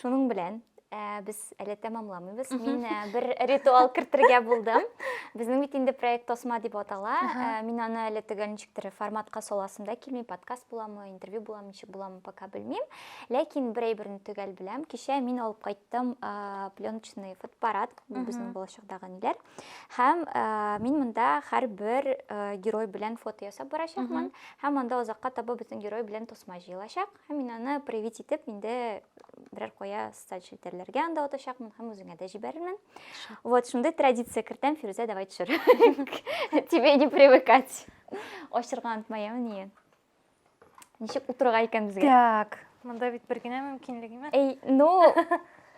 Шуның белән Э, без әле тәмамламыйбыз. Мин э, бер ритуал кертергә булдым. Безнең бит инде проект Тосма дип атала. Э, мин аны әле төгәл ничектер форматка саласым да килми, подкаст буламы, интервью буламы, ничек буламы, пока белмим. Ләкин бер әйберне төгәл беләм. Кичә мин алып кайттым пленочный фотоаппарат, безнең булачакдагы ниләр. Һәм мин монда һәрбер герой белән фото ясап барачакмын. Һәм анда озакка таба безнең герой белән тосма җыелачак. Һәм мин аны привить итеп инде берәр кая социаль челтәрләргә анда атачакмын һәм үзеңә дә җибәрермен. Вот шундый традиция кертәм, Фирүзә, давай төшер. Тебе не привыкать. Ачырга онытмая мени. Ничек утырырга икән безгә? Так. Монда бит бер генә мөмкинлек имә. Эй, ну,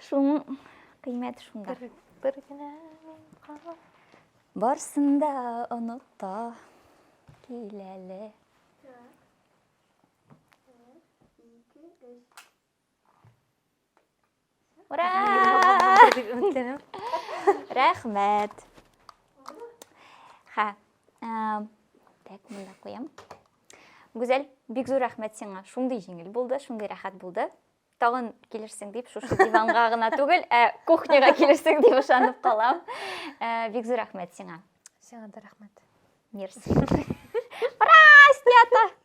шуның кыйммәте шунда. Бер, бер генә мөмкинлек. Барсын да оныта киләле. Ура! Рәхмәт. Ха. Так, монда куям. Гүзәл, бик зур рәхмәт сиңа. Шундый җиңел булды, шундый рәхәт булды. Тагын килерсең дип, шушы диванга гына түгел, ә кухняга килерсең дип ышанып калам. Э, бик зур рәхмәт сиңа. Сиңа да рәхмәт. Мерси. Ура, снято!